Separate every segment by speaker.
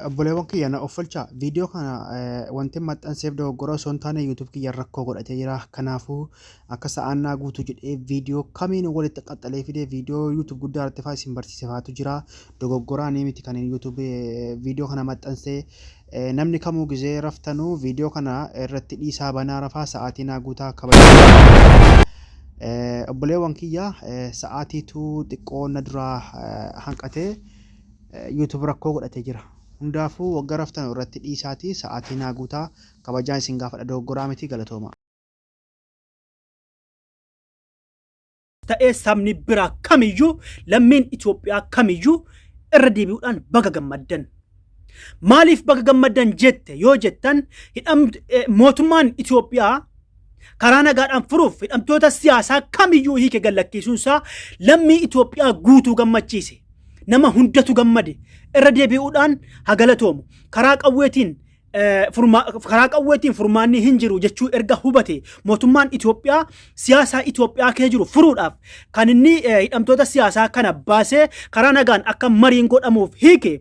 Speaker 1: Obboleewwan kiyya na offolchaa viidiyoo kana wanti maxxanseef dogoggora osoo hin taane YouTube kiyya rakkoo godhatee jira. Kanaafuu akka sa'aan naa guutu jedhee viidiyoo kamiin walitti qaxxalee fidee viidiyoo YouTube guddaa irratti fa'aa isin barsiisefaatu jira. Dogoggoraa ni miti kan YouTube viidiyoo kana maxxansee namni kamuu gizee raftanuu viidiyoo kana irratti dhiisaa banaa rafaa sa'aatii naa guutaa kabajaa. Obboleewwan kiyya sa'aatiitu xiqqoo na duraa hanqatee. YouTube rakkoo godhate jira. Hundaafuu wagga raftanu irratti dhiisaatii sa'aatii naa guutaa. Kabajaan isin gaafadha dogoggoraa miti galatooma.
Speaker 2: ta'ee sabni biraa kamiyyuu lammiin Itoophiyaa kamiyyuu irra deebi'uudhaan baga gammaddan. Maaliif baga gammaddan jette yoo jettan hidhamtu mootummaan Itoophiyaa karaa nagaadhaan furuuf hidhamtoota siyaasaa kamiyyuu hiike gallakkiisuun isaa lammii Itoophiyaa guutuu gammachiise. Nama hundatu gammade. Irra deebi'uudhaan hagalatoomu. Karaa qawweetiin karaa qawweetiin furmaanni hin jiru jechuu erga hubate mootummaan Itoophiyaa siyaasaa Itoophiyaa kee jiru furuudhaaf kan inni hidhamtoota siyaasaa kana baasee karaa nagaan akka mariin godhamuuf hiike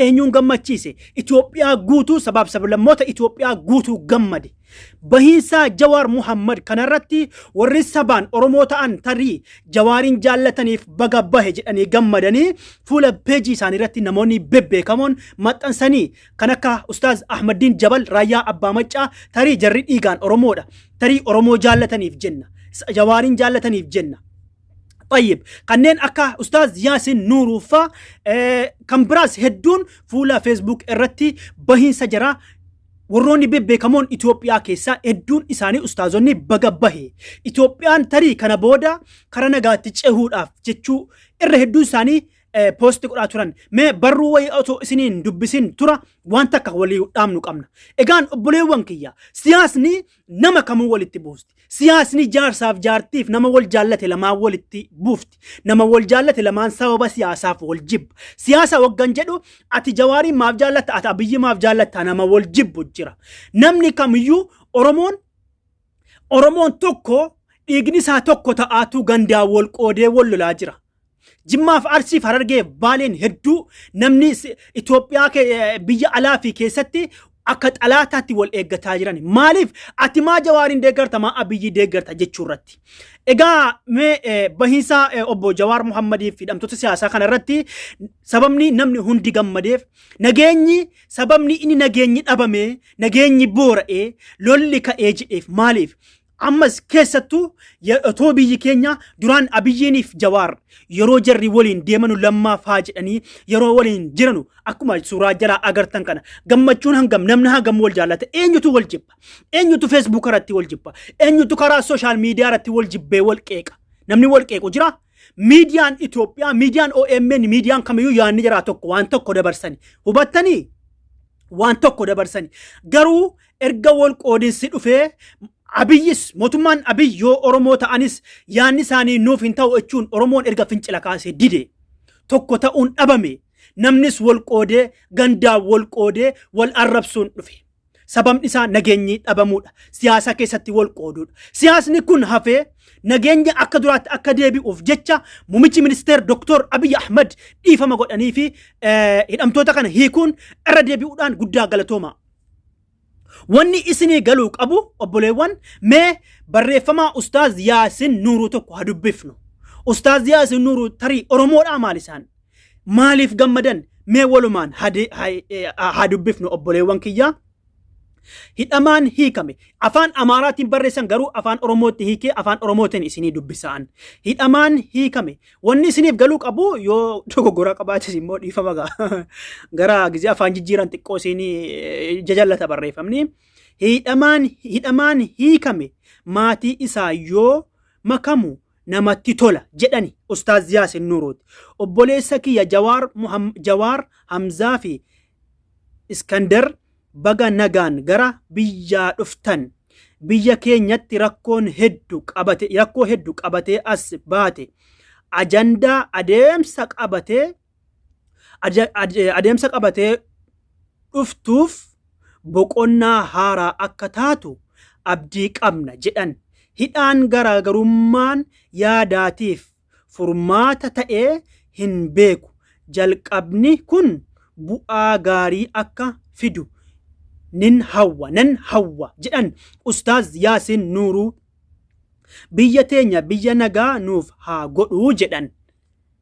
Speaker 2: Eenyuun gammachiise? Itoophiyaa guutuu sabaaf sablammoota Itoophiyaa guutuu gammade. Bahiinsaa Jawaar Muhammad kanarratti warri sabaan Oromoo ta'an tarii Jawaariin jaallataniif baga bahe jedhanii gammadanii fuula peejii isaanii irratti namoonni bebbeekamoon maxxansanii kan akka Ustaaz Ahmaddiin Jabal Raayyaa Abbaa Maccaa tarii jarri dhiigaan Oromoodha. Tarii Oromoo jaallataniif jenna. Jawaariin jaallataniif jenna. طيب kanneen akka ustaaz yaasin nuuruu faa eh, kan biraas hedduun fuula feesbuuk irratti bahiinsa jira warroonni bebbeekamoon Itoophiyaa keessaa hedduun isaanii ustaazonni baga bahe Itoophiyaan tarii kana booda kara nagaatti cehuudhaaf jechuu irra hedduun isaanii eh, poosti godhaa turan mee barruu wayii otoo isiniin dubbisin tura waan takka walii dhaamnu qabna egaan obboleewwan kiyya siyaasni nama kamuu walitti buusti. Siyaasni jaarsaaf jaartiif nama wal jaallate lamaan walitti buufti. Nama wal jaallate lamaan sababa siyaasaaf wal jibba. Siyaasa waggan jedhu ati jawaariin maaf jaallatta ati abiyyi maaf jaallatta nama wal jibbu jira. Namni kamiyyuu Oromoon Oromoon tokko dhiigni isaa tokko ta'aatuu gandaan wal qoodee wal lolaa jira. Jimmaaf Arsiif Harargee Baaleen hedduu namni Itoophiyaa biyya alaa fi keessatti akka xalaataatti wal eeggataa jiran. Maaliif ati maa Jawaariin deeggarta maa Abiyyii deeggarta jechuu irratti. Egaa mee bahiinsa obbo Jawaar Muhammadii fi hidhamtoota siyaasaa kana irratti sababni namni hundi gammadeef nageenyi sababni inni nageenyi dhabamee nageenyi boora'ee lolli ka'ee jedheef maaliif Ammas keessattuu ya- otoo biyyi keenya duraan Abiyyiiniif Jawaar yeroo jarri waliin deemanu lammaa faa jedhanii yeroo waliin jiranu akkuma suuraa jalaa agartan kana gammachuun hangam namni hangam wal jaallata eenyutu wal jibba eenyutu feesbuuk irratti wal jibba eenyutu karaa sooshaal miidiyaa irratti wal jibbee wal qeeqa namni wal qeequ jira miidiyaan Itoophiyaa miidiyaan OMN miidiyaan kamiyyuu yaadni jiraa tokko waan tokko dabarsani hubattanii waan tokko dabarsani garuu erga wal qoodinsi dhufee abiyyis mootummaan abiy yoo oromoo ta'anis yaanni isaanii nuuf hin ta'u jechuun oromoon erga fincila kaasee dide tokko ta'uun dhabame namnis wal qoodee gandaa wal qoodee wal arrabsuun dhufe. Sababni isaa nageenyi dhabamuudha. Siyaasa keessatti wal qooduudha. Siyaasni kun hafee nageenya akka duraatti akka deebi'uuf jecha muummichi ministeer Dr. Abiy Ahmad dhiifama godhanii fi hidhamtoota kana hiikuun irra deebi'uudhaan guddaa galatooma. Wanni isinii galuu qabu obboleewwan mee barreeffamaa Ustaaz Yaasin Nuuruu tokko haa dubbifnu. Ustaaz Yaasin Nuuruu tarii Oromoodhaa maal isaan? Maaliif gammadan? Mee walumaan haa de- haa- eh, haa dubbifnu obboleewwan kiyyaa. hidhamaan hiikame afaan amaaraatiin barreessan garuu afaan oromootti hiikee afaan oromootiin isinii dubbisaan hidhamaan hiikame Wanni isiniif galuu qabu yoo dogoggoraa qabaates immoo dhiifama ga'a. Gara gizee afaan jijjiiran xiqqoo isiin jajallata barreeffamni. Hidhamaan hidhamaan hiikame maatii isaa yoo makamu namatti tola jedhani Ustaaz Yaasin Nuuruuti. Obboleessa kiyya Jawaar Muham- Jawaar Hamzaa fi Iskandar baga nagaan gara biyyaa dhuftan. Biyya keenyatti rakkoon heddu qabate rakkoo heddu qabatee as baate. Ajandaa adeemsa qabatee aja- ade- adeemsa qabatee dhuftuuf boqonnaa haaraa akka taatu abdii qabna jedhan. Hidhaan garaagarummaan yaadaatiif furmaata ta'ee hin beeku. Jalqabni kun bu'aa gaarii akka fidu nin hawwa, nan hawwa jedhan Ustaaz Yaasiin Nuuruu. Biyya teenya biyya nagaa nuuf haa godhu jedhan.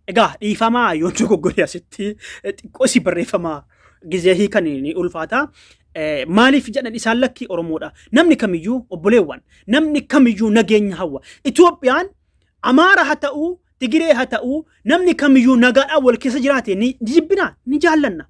Speaker 2: Egaa dhiifamaa yoon dogoggore asitti xiqqoo si barreeffama gizee hiikan ni ulfaata. Eh, Maaliif jedhan isaan lakkii Oromoodha. Namni kamiyyuu obboleewwan, namni kamiyyuu nageenya hawwa. Itoophiyaan Amaara ha ta'u, Tigiree ha ta'u, namni kamiyyuu nagaadhaan wal keessa jiraate ni jibbina, ni jaallanna.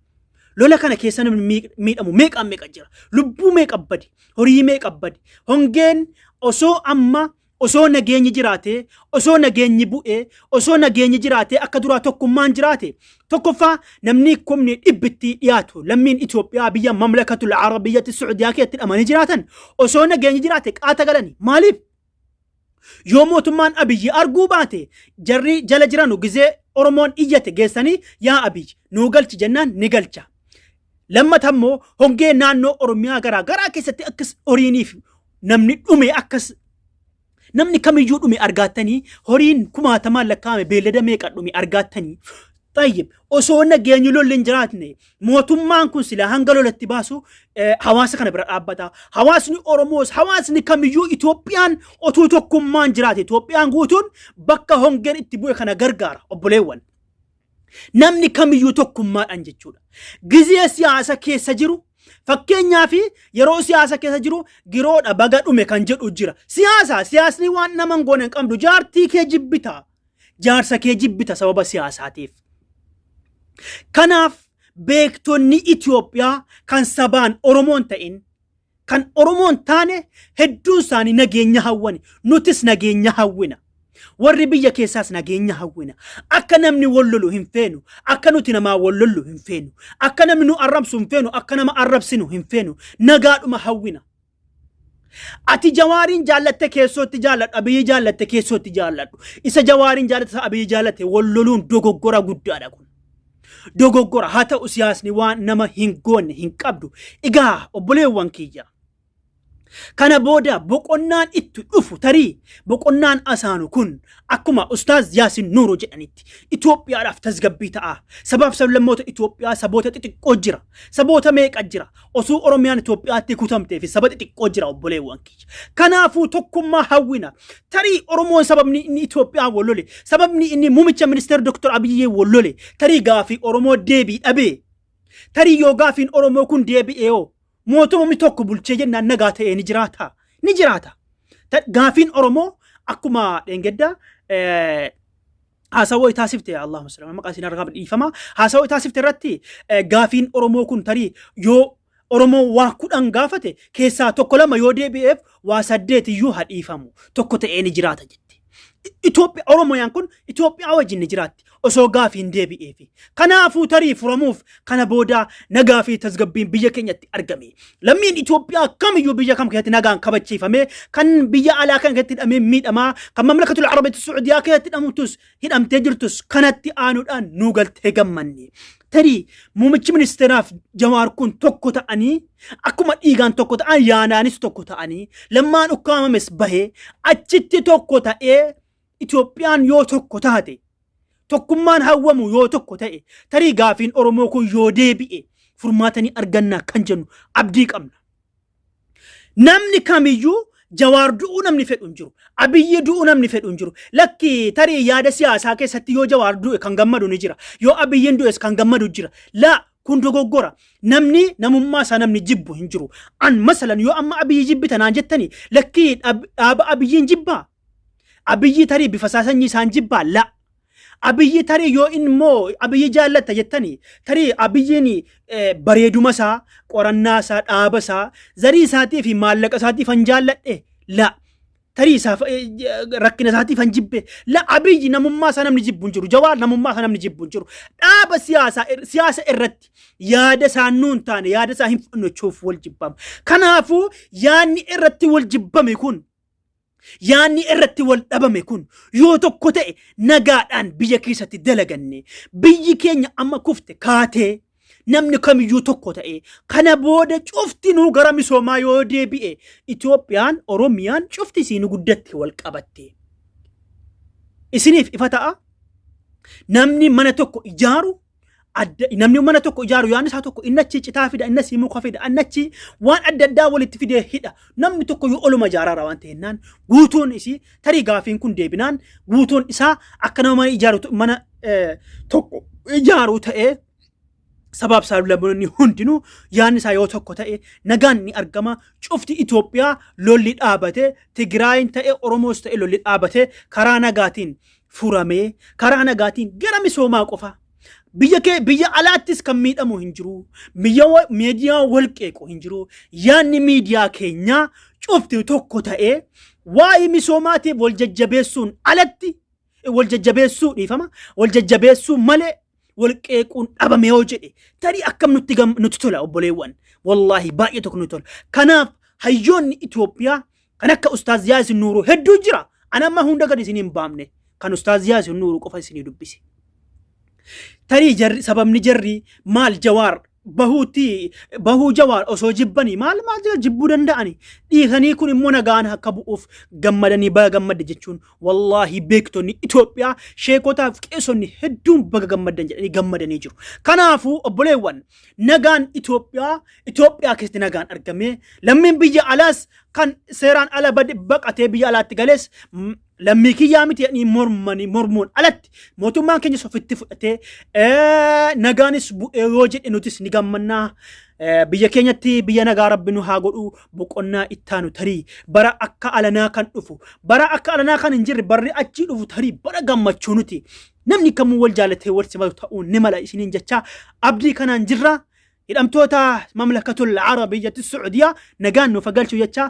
Speaker 2: Lola kana keessa namni miidh- miidhamu meeqaan meeqa jira. Lubbuu meeqa bade, horii meeqa bade. Hongeen osoo amma osoo nageenyi jiraatee, osoo nageenyi bu'ee, osoo nageenyi jiraatee akka duraa tokkummaan jiraate. Tokkoffaa namni kumni dhibbitti dhiyaatu lammiin Itoophiyaa biyya mamlakatul Arabiyyatti Suudiyaa keessatti hidhamanii jiraatan osoo nageenyi jiraate qaata galani. Maaliif? Yoo mootummaan Abiyyi arguu baate jarri jala jiranu gizee Oromoon iyyate geessanii yaa Abiyyi nuu galchi jennaan ni galcha. Lammata immoo hongee naannoo Oromiyaa garaa garaa keessatti akkas horiiniif namni dhume akkas namni kamiyyuu dhume argaattanii horiin kumaatamaan lakkaa'ame beellada meeqa dhume argaattanii Tayyib osoo nageenyi lolli hin jiraatne mootummaan kun silaa hanga lolatti baasu eh, hawaasa kana bira dhaabbata. Hawaasni Oromoos hawaasni kamiyyuu Itoophiyaan otuu tokkummaan jiraate Itoophiyaan guutuun bakka hongeen itti bu'e kana gargaara obboleewwan. Namni kamiyyuu tokkummaadhaan jechuudha. Gizee siyaasa keessa jiru fakkeenyaa fi yeroo siyaasa keessa jiru giroodha baga dhume kan jedhu jira. Siyaasa siyaasni waan nama hin goone hin qabdu jaartii kee jibbitaa. Jaarsa kee jibbita sababa siyaasaatiif. Kanaaf beektonni Itoophiyaa kan sabaan Oromoon ta'in kan Oromoon taane hedduun isaanii nageenya hawwani. Nutis nageenya hawwina. Warri biyya keessaas nageenya hawwina. Akka namni wal lolu hin feenu. Akka nuti namaa wal lollu hin feenu. Akka namni nu arrabsu hin feenu. Akka nama arrabsinu hin feenu. Nagaadhuma hawwina. Ati jawaariin jaallatte keessoo itti jaalladhu abiyyi jaallatte keessoo itti jaalladhu isa jawaariin jaallatte isa abiyyi jaallatte wal loluun dogoggora guddaadha kun. Dogoggora haa ta'u siyaasni waan nama hin goonne hin qabdu. Egaa obboleewwan kiyya. Kana booda boqonnaan itti dhufu tarii boqonnaan asaanu kun akkuma Ustaaz Yaasin Nuuroo jedhanitti Itoophiyaadhaaf tasgabbii ta'a. Sabaaf sablammoota Itoophiyaa saboota xixiqqoo jira. Saboota meeqa jira. Osoo Oromiyaan Itoophiyaatti kutamtee fi saba xixiqqoo jira obboleewwan kiyya. Kanaafuu tokkummaa hawwina. Tarii Oromoon sababni inni Itoophiyaa wal lole, sababni inni muummicha ministeera Dr. Abiyyee wal lole, tarii gaafii Oromoo deebii dhabee. Tarii yoo gaafiin Oromoo kun deebi'ee hoo mootumamni tokko bulchee jennaan nagaa ta'ee ni jiraata. Ni jiraata. Ta- Gaafiin Oromoo akkuma dheengaddaa eh, haasawoo taasifte yaa Allaahumma salli ala maqaa isin argaaf dhiifama haasawoo taasifte irratti eh, gaafiin Oromoo kun tarii yoo Oromoo waa kudhan gaafate keessaa tokko lama yoo deebi'eef waa saddeet iyyuu haa dhiifamu tokko ta'ee ni jiraata jette. Itoophiyaa Oromooyaan kun Itoophiyaa wajjin ni jiraatti osoo gaafiin deebi'eefi. Kanaafuu tarii furamuuf Kana booda nagaa fi tasgabbiin biyya keenyatti argame. Lammiin Itoophiyaa kamiyyuu biyya kam keessatti nagaan kabachiifame kan biyya alaa kan keessatti hidhamee miidhamaa kan mamlakatul Arabitti Suudiyaa keessatti hidhamtus hidhamtee jirtus kanatti aanuudhaan nuu galtee gammanne. Tarii muummichi ministeeraaf jawaar kun tokko ta'anii akkuma dhiigaan tokko ta'an yaanaanis tokko ta'anii lammaan ukkaamames bahee achitti tokko ta'ee Itoophiyaan yoo tokko taate, tokkummaan hawwamu yoo tokko ta'e, tarii gaafiin Oromoo kun yoo deebi'e furmaata ni arganna kan jennu abdii qabna. Namni kamiyyuu Jawaar du'uu namni fedhu hin jiru. Abiyyi du'uu namni fedhu hin jiru. Lakki tarii yaada siyaasaa keessatti yoo Jawaar du'e kan gammadu ni jira. Yoo Abiyyiin du'es kan gammadu jira. Laa kun dogoggora. Namni namummaa isaa namni jibbu hin jiru. An masalan yoo amma Abiyyi jibbita naan jettani lakki dhaaba Abiyyiin jibbaa Abiyyi tarii bifa isaa sanyii isaan jibbaa la. Abiyyi tarii yoo inni immoo abiyyi jaallatta jettani tarii abiyyiin eh, bareeduma isaa qorannaa isaa dhaaba isaa zarii isaatii fi maallaqa isaatii fan jaalladhe la. Tarii isaaf eh, j- rakkina isaatii fan jibbe la abiyyi namummaa isaa namni jibbu hin jiru jawaar namummaa isaa namni jibbu hin jiru dhaaba siyaasaa ir- siyaasa irratti yaada isaa nuu hin taane yaada isaa hin fudhannechuuf wal jibbama. Kanaafuu yaadni irratti wal jibbame kun Yaanni irratti wal dhabame kun yoo tokko ta'e nagaadhaan biyya keessatti dalaganne biyyi keenya amma kufte kaatee namni kamiyyuu tokko ta'e kana booda cuftinuu gara misoomaa yoo deebi'e Itoophiyaan Oromiyaan cufti isiin guddatti wal qabatte. Isiniif ifa ta'a namni mana tokko ijaaru Adda, namni mana tokko ijaaru yaadni isaa tokko inni achi citaa fida inni asii muka fida inni achi waan adda addaa walitti fidee hidha namni tokko yoo oluma ijaaraara waan ta'ennaan guutuun isii tarii gaafiin kun deebinaan guutuun isaa akka nama mana ijaaru t- mana eh, tokko ijaaru ta'ee sabaaf saaxilamtoonni hundinuu yaadni isaa yoo tokko ta'e nagaan ni argama cufti Itoophiyaa lolli dhaabate Tigraayin ta'e Oromoos ta'e lolli dhaabate karaa nagaatiin furamee karaa nagaatiin gara misoomaa qofaa biyya kee biyya alaattis kan miidhamu hin jiru biyya wa- miidiyaa wal qeequ hin jiru yaadni miidiyaa keenyaa cufti tokko ta'ee waa'ee misoomaatiif wal jajjabeessuun alatti wal jajjabeessuu dhiifama wal jajjabeessuu malee wal qeequun dhabame yoo jedhe tarii akkam nutti gam- nutti tola obboleewwan wallaahi baay'ee tokko nutti tola kanaaf hayyoonni Itoophiyaa kan akka ustaaz Yaasin Nuuruu hedduu jira ana amma hunda gad isin hin baamne kan ustaaz Yaasin Nuuruu qofa isinii dubbise tarii jarri sababni jarri maal jawaar bahuutti bahuu jawaar osoo jibbanii maal maal jira jibbuu danda'ani dhiisanii kun immoo nagaan akka bu'uuf gammadanii baga gammadde jechuun Wallaahi beektonni Itoophiyaa sheekotaaf qeesonni hedduun baga gammaddan jedhanii gammadanii jiru. Kanaafuu obboleewwan nagaan Itoophiyaa Itoophiyaa keessatti nagaan argamee lammiin biyya alaas kan seeraan ala bade baqatee biyya alaatti galees mm, lammii kiyyaa miti jedhanii mormanii mormuun alatti mootummaan keenyas ofitti fudhatee eh, nagaanis bu'ee yoo jedhe nutis ni gammannaa. Eh, Biyya keenyatti biyya nagaa rabbi nu haa godhu boqonnaa ittaanu tarii bara akka alanaa kan dhufu bara akka alanaa kan hin jirre barri achii dhufu tarii bara gammachuu nuti namni kamuu wal jaalatee wal simatu ta'uu ni mala isiniin jechaa abdii kanaan jirra hidhamtoota mamlakatul arabiyyatti sucudiyaa nagaan nuuf haa galchu jechaa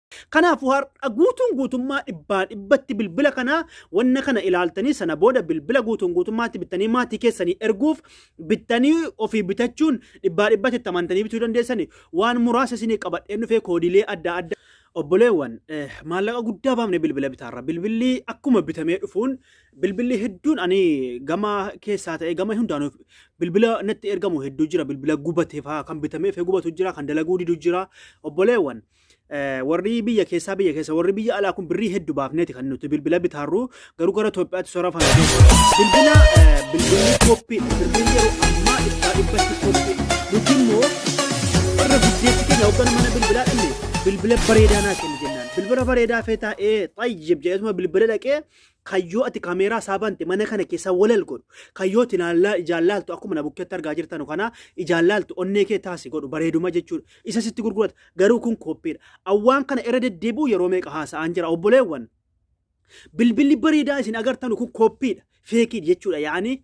Speaker 2: Kanaafuu har'a guutuun guutummaa dhibbaa dhibbatti bilbila kanaa wanna kana ilaaltanii sana booda bilbila guutuun guutummaatti bittanii maatii keessanii erguuf bittanii ofii bitachuun dhibbaa dhibbatti itti amantanii bituu dandeessanii waan muraasa isinii qabadheen dhufee koodiilee adda addaa. Obboleewwan maallaqa guddaa baafne bilbila bitaarra bilbilli akkuma bitamee dhufuun bilbilli hedduun ani gama keessaa ta'ee gama hundaanuuf bilbila natti ergamu hedduu jira bilbila gubatee fa'aa kan bitamee fi gubatu jira kan dalaguu didu jira obboleewwan. warri biyya keessaa biyya keessa warri biyya alaa kun birrii heddu baafneeti kan nuti bilbila bitaarru garuu gara Itoophiyaatti sora fana bilbila bilbilli kooppiin bilbilli yeroo ammaa ibsaa dhibbatti kooppiin nuti immoo warra guddeessi keenya hoggana mana bilbilaa dhanne bilbila bareedaa naa kenni jennaan bilbila bareedaa feetaa ee xayyib jedhesuma bilbila dhaqee Kan yoo ati kameeraa isaa bante mana kana keessa walal godhu. Kan yoo ati naallaa ijaan laaltu akkuma na bukkeetti argaa jirtanu kana ijaan laaltu onnee kee taasi godhu bareeduma jechuudha. Isa sitti gurgurata. Garuu kun kooppiidha. Awwaan kana irra deddeebi'u yeroo meeqa haasa'aan jira obboleewwan. Bilbilli bareedaa isin agartanu kun kooppiidha. Feekiidha jechuudha. Yaani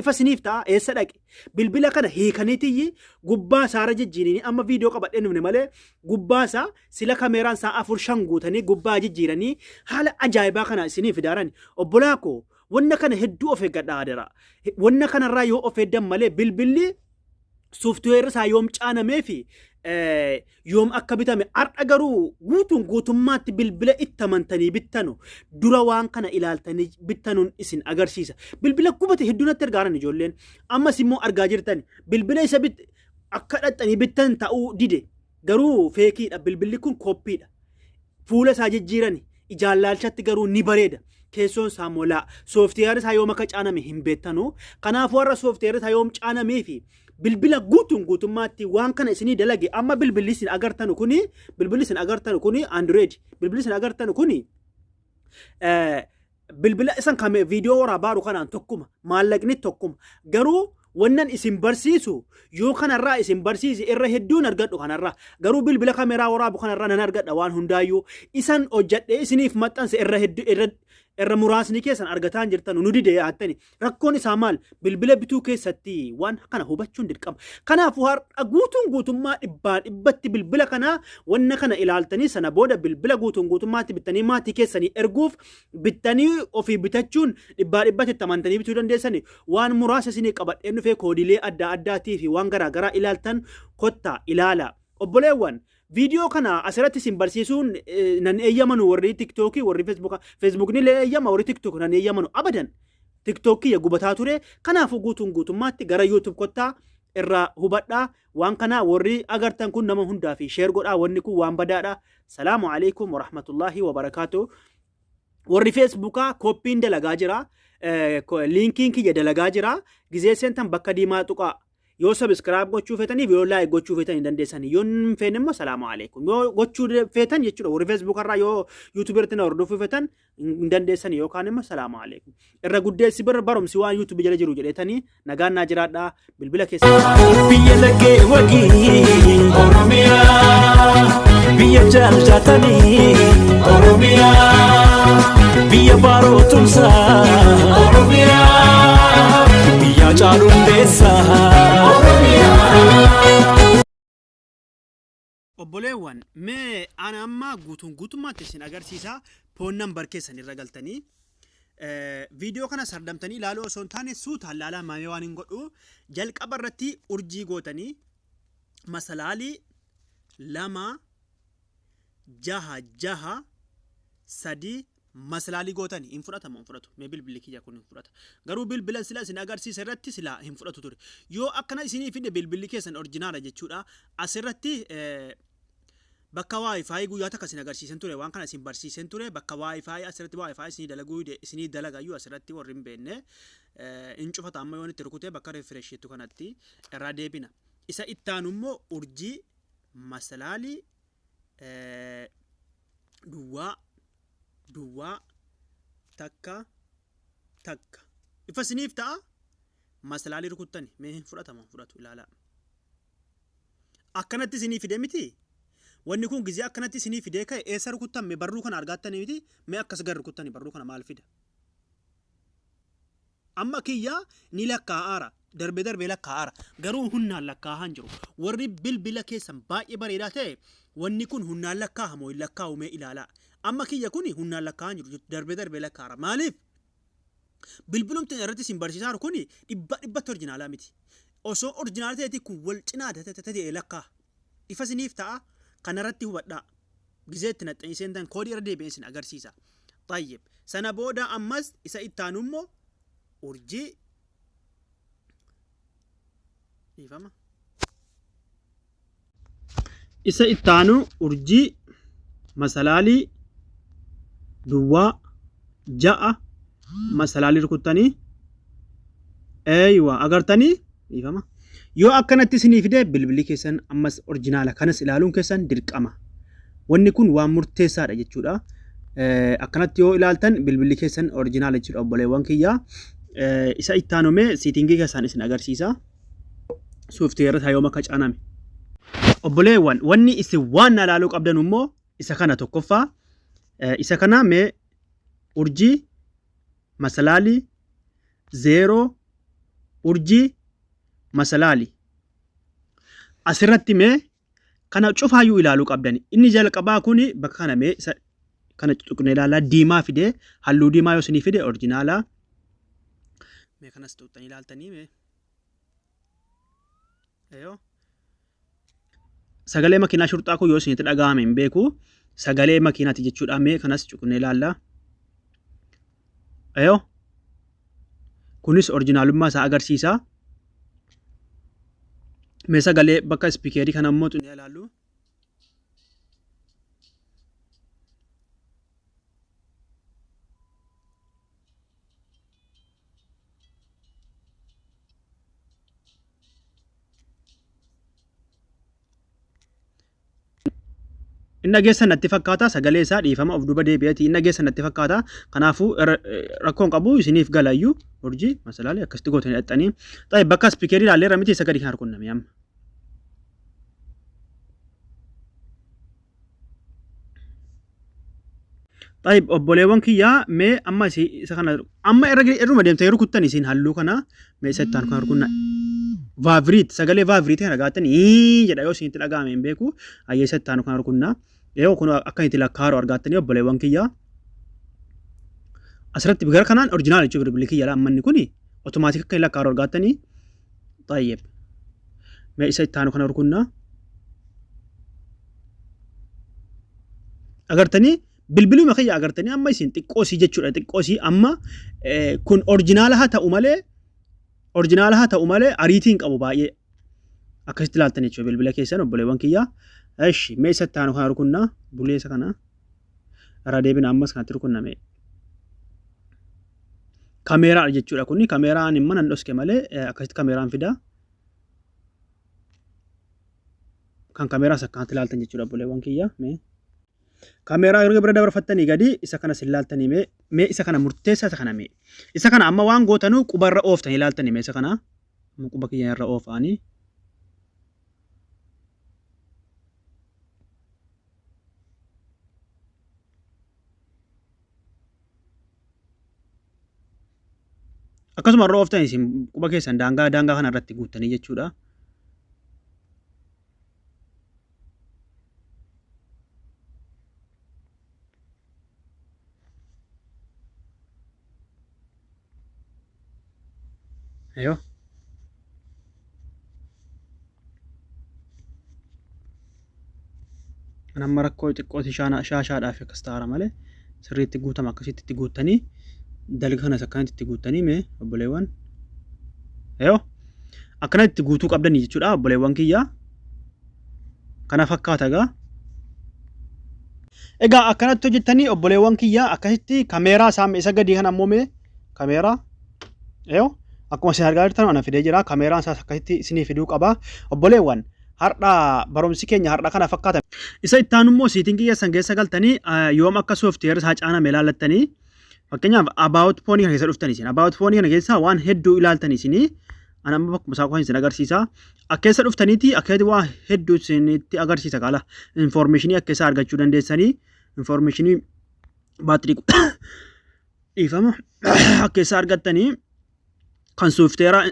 Speaker 2: Ifa isiniif ta'a eessa dhaqe? Bilbila kana hiikanii tiyyi gubbaa isaarra jijjiirini amma viidiyoo qabadhee dhufne malee gubbaa isaa sila kameeraan isaa afur shan guutanii gubbaa jijjiiranii haala ajaa'ibaa kana isinii fidaaran obbolaa koo wanna kana hedduu of eeggadha adaraa wanna kanarraa yoo of eegdan malee bilbilli sooftiweerri isaa yoom caanamee fi yoom akka bitame har'a garuu guutuun guutummaatti bilbila itti amantanii bittanu dura waan kana ilaaltanii bittanuun isin agarsiisa. Bilbila gubate hedduu natti ergaaran ijoolleen ammas immoo argaa jirtan bilbila isa bit akka dhaxxanii bittan ta'uu dide Garuu feekiidha bilbilli kun koppiidha. Fuula isaa jijjiirani ijaan laalchatti garuu ni bareeda. Keessoon isaa molaa. Sooftiyeerri isaa yoom akka caaname hin beektanu. Kanaafuu har'a sooftiyeerri isaa yoom caanamee fi bilbila guutuun guutummaatti waan kana isinii dalage amma bilbilli isin agartanu kuni bilbilli isin agartanu kuni Android bilbilli isin agartanu kuni bilbila isan kame viidiyoo waraa baaru kanaan tokkuma maallaqni tokkuma garuu wannan isin barsiisu yoo kanarraa isin barsiise irra hedduun argadhu kanarraa garuu bilbila kameraa waraabu kanarraa nan argadha waan hundaayyuu isan hojjadhee isiniif maxxanse irra heddu irra irra muraasni keessan argataan jirtan nu dide yaattani Rakkoon isaa maal? Bilbila bituu keessatti waan kana hubachuun dirqama. Kanaafuu har'a guutuun guutummaa dhibbaa dhibbatti bilbila kanaa wanna kana ilaaltanii sana booda bilbila guutuun guutummaatti bittanii maatii keessanii erguuf bittanii ofii bitachuun dhibbaa dhibbatti itti amantanii bituu dandeessani waan muraasa isinii qabadheen dhufee koodiilee adda addaatii fi waan garaa garaa ilaaltan kottaa ilaala. Obboleewwan Viidiyoo kana asirratti isin barsiisuun nan eeyyamanu warri tiktookii warri feesbuuka feesbuukni illee eeyyama warri tiktook nan eeyyamanu abadan tiktookii gubataa ture kanaafuu guutuun guutummaatti gara yuutuub kottaa irraa hubadhaa waan kanaa warri agartan kun nama hundaa fi sheer godhaa wanni kun waan badaadha salaamu alaikum warahmatullaahi wabarakaatu warri feesbuukaa kooppiin dalagaa jira liinkiin kiyya dalagaa jira gizee seentan bakka diimaa tuqaa Yoo subscribe gochuu feetaniif yoo like gochuu feetan hin dandeessan. Yoo hin feene immoo salaamu alaikum. Yoo gochuu feetan jechuudha warri Facebook irraa yoo YouTube irratti na hordofuu feetan hin dandeessan yookaan immoo salaamu alaikum. Irra guddeessi bira barumsi waan YouTube jala jiru jedheetanii nagaan naa jiraadhaa bilbila keessaa. biyya laggee
Speaker 3: wagii oromiyaa biyya jaallatanii oromiyaa biyya baaroo tumsaa oromiyaa. Yaa caalu
Speaker 2: hundeessaa. Obboleewwan mee ana amma guutuun guutummaatti isin agarsiisa poon nambar keessan irra galtanii viidiyoo kana sardamtanii ilaaluu osoo hin taane suutaan laalaa maamee waan hin godhu jalqaba irratti urjii gootanii masalaalii lama jaha jaha sadii Maslaali gootani hin fudhata moo hin fudhatu mee bilbili kiyya kun hin fudhata garuu bilbilan sila isin agarsiise irratti sila hin fudhatu ture yoo akkana isinii fide bilbilli keessan orjinaala jechuudha asirratti bakka wifi guyyaa takka isin agarsiisen ture waan kana isin barsiisen ture bakka wifi asirratti wifi isinii dalaguu dide isinii dalagayyuu asirratti warri hin beenne hin cufata amma yoon itti rukute bakka refresh jettu kanatti irraa deebina isa ittaanu immoo urjii masalaalii eh, duwwaa duwwaa takka takka ifa isiniif ta'a masalaalii rukuttani mee hin fudhatama hin fudhatu ilaalaa akkanatti isinii fide miti wanni kun gizee akkanatti isinii fidee ka'e eessa rukuttan mee barruu kana argaattanii miti mee akkas gar rukuttani barruu kana maal fida Amma kiyya ni lakkaa'aara. Darbe darbee lakkaa'aara. Garuu hunnaan lakkaa'aa hin jiru. Warri bilbila keessan baay'ee bareedaa ta'e wanni kun hunnaan lakkaa'aa moo hin lakkaa'u mee ilaalaa. Amma kiyya kuni hunnaan lakkaa'aa hin jiru. Darbe darbee lakkaa'aara. Maaliif? Bilbilumti irratti isin barsiisaaru kuni dhibbaa dhibbatti orjinaalaa miti. Osoo orjinaala ta'eeti kun wal cinaa ta'e lakkaa'a. Ifa isiniif ta'a kanaratti hubadhaa. Gizee itti naxxanii seentan koodii irra deebi'een isin agarsiisa. Xayyib. Sana booda ammas isa itti aanu immoo urjii dhiifama. Isa itti aanu urjii masalaalii duwwaa ja'a masalaalii rukuttanii eeywa agartanii dhiifama yoo akkanatti isinii fide bilbilli keessan ammas orjinaala kanas ilaaluun keessan dirqama wanni kun waan murteessaadha jechuudha Eh, akkanatti yoo ilaaltan bilbilli keessan orjinaala jechuudha obboleewwan kiyya Eh, isa ittaanumee siitingii keessan isin agarsiisa sooftiweerri isaa yoom akka caaname obboleewwan wanni isin waan na ilaaluu qabdan immoo isa kana tokkoffaa Eh, isa kana mee urjii masalaali zeeroo urjii masalaali asirratti mee kana cufaayyuu ilaaluu qabdani inni jalqabaa kun bakka kana mee isa kana tuqne ilaalaa diimaa fidee halluu diimaa yoo isinii fide orjinaalaa mee kanas tuqxanii ilaaltanii mee Sagalee makiinaa shurxaa kun yoo isinitti dhaga'ame hin beeku. Sagalee makiinaati jechuudha. Mee kanas cuqnee ilaalla. Ayoo. Kunis orjinaalummaa isaa agarsiisa. Mee sagalee bakka ispikeerii kana immoo cuqnee ilaallu. Inni dhageessan natti fakkaata sagalee isaa dhiifama of duuba deebi'eeti inni dhageessan natti fakkaata kanaafuu rakkoon qabu isiniif galayyuu urjii masalaalee akkasitti gootanii dhaxxanii ta'e bakka ispikeerii ilaallee irra miti isa gadi hin harkunname amma. طيب obboleewwan kiyyaa mee amma isi isa kana amma irra irruma deemtee yeroo kuttan isin halluu kana mee isa itti aanu kana rukunna vaaviriit sagalee vaaviriitii kana gaatan ii jedha yoo isinitti dhaga'ame hin beeku ayyee isa itti aanu kana rukunna yoo kun akka itti lakkaaru argaattanii obboleewwan kiyyaa asirratti gara kanaan orjinaal jechuun bilbilli kiyyaa amma inni kun otomaatik akka hin lakkaaru argaattanii طيب mee isa itti aanu kana rukunna agartanii bilbiluma kiyya agartanii amma isin xiqqoosii jechuudha xiqqoosii amma eh, kun orjinaala haa ta'u malee orjinaala haa ta'u malee ariitiin qabu baay'ee akkasitti ilaaltan jechuudha bilbila keessan obboleewwan kiyya eshi mee isa itti aanu kana rukunna buleessa kana irraa deebina ammas kanatti rukunname kameeraadha jechuudha kuni kameeraan immoo nan dhoske malee akkasitti kameeraan fida kan kameeraas akkanatti ilaaltan jechuudha obboleewwan kiyya mee kameeraa erga bira dabarfattanii gadi isa kana sin laaltanii mee mee isa kana murteessaa isa kana mee isa kana amma waan gootanuu quba irra ooftanii laaltanii mee isa kana amma quba kiyya irra oofaanii Akkasuma irra ooftan isin quba keessan daangaa daangaa kana irratti guuttanii jechuudha. Ayo. Kan amma rakkoo xiqqooti shaashaadhaaf akkas ta'aara malee sirriitti guutama akkasitti itti guuttanii dalga kanas akkanatti itti guuttanii mee obboleewwan. Ayo. Akkana itti guutuu qabdanii jechuudha obboleewwan kiyyaa. kana fakkaata egaa. Egaa akkanatti hojjettanii obboleewwan kiyya akkasitti kameeraa isaa isa gadii kan ammoo mee kameeraa yoo akkuma isin argaa jirtan ana fidee jira kameeraan isaas akkasitti isinii fiduu qaba obboleewwan har'a barumsi keenya har'a kana fakkaata. Isa itti aanu immoo siitingii keessan keessa galtanii yoom akka sooftiweerri isaa caaname ilaallattanii Fakkeenyaaf about phone kana keessa dhuftan isin about phone kana keessaa waan hedduu ilaaltan isin ana amma bakkuma isaa qofa isin agarsiisa. Akka keessa dhuftaniiti akkasitti waa hedduu isinitti agarsiisa kaala informationii akka isaa argachuu dandeessanii informationii baatirii dhiifama akka isaa argattanii kan soofteeraa